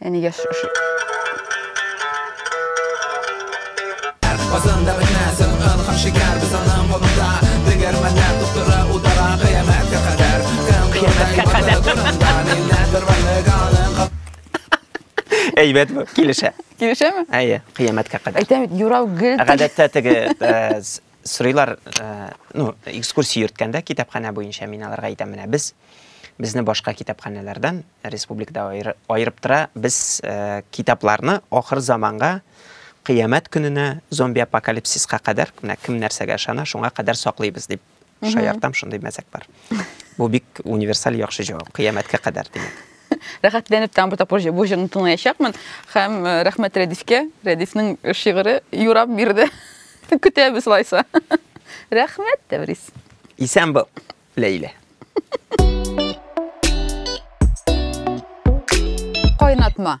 Әне яш шушы. Базында бенәсен, ын һәм шикәр без аның монда. Дегәрмәннәр туктыра утара кыямәткә кадәр. Кыямәткә кадәр. Әйбәт бу, килешә. Килешәме? Әйе, кыямәткә кадәр. Әйтәм бит, юрау гел. Гадәттә теге э, с- сорыйлар, э, ну, экскурсия йөрткәндә китапханә буенча мин аларга әйтәм, менә без безне башка китапханәләрдән Республикада аерып тора, без китапларны ахыр заманга, кыямәт көненә, зомби-апокалипсиска кадәр, менә кем нәрсәгә ышана, шуңа кадәр саклыйбыз дип шаяртам, шундый мәзәк бар. Бу бик универсаль яхшы җавап, кыямәткә кадәр димәк. Рәхәтләнеп тагын бер тапкыр бу җырны тыңлаячакмын һәм рәхмәт Рәдифкә, Рәдифнең шигыре юрап бирде. Көтәбез алайса. Рәхмәт, Тәврис. Исән бул! Ләйлә. Кайнатма.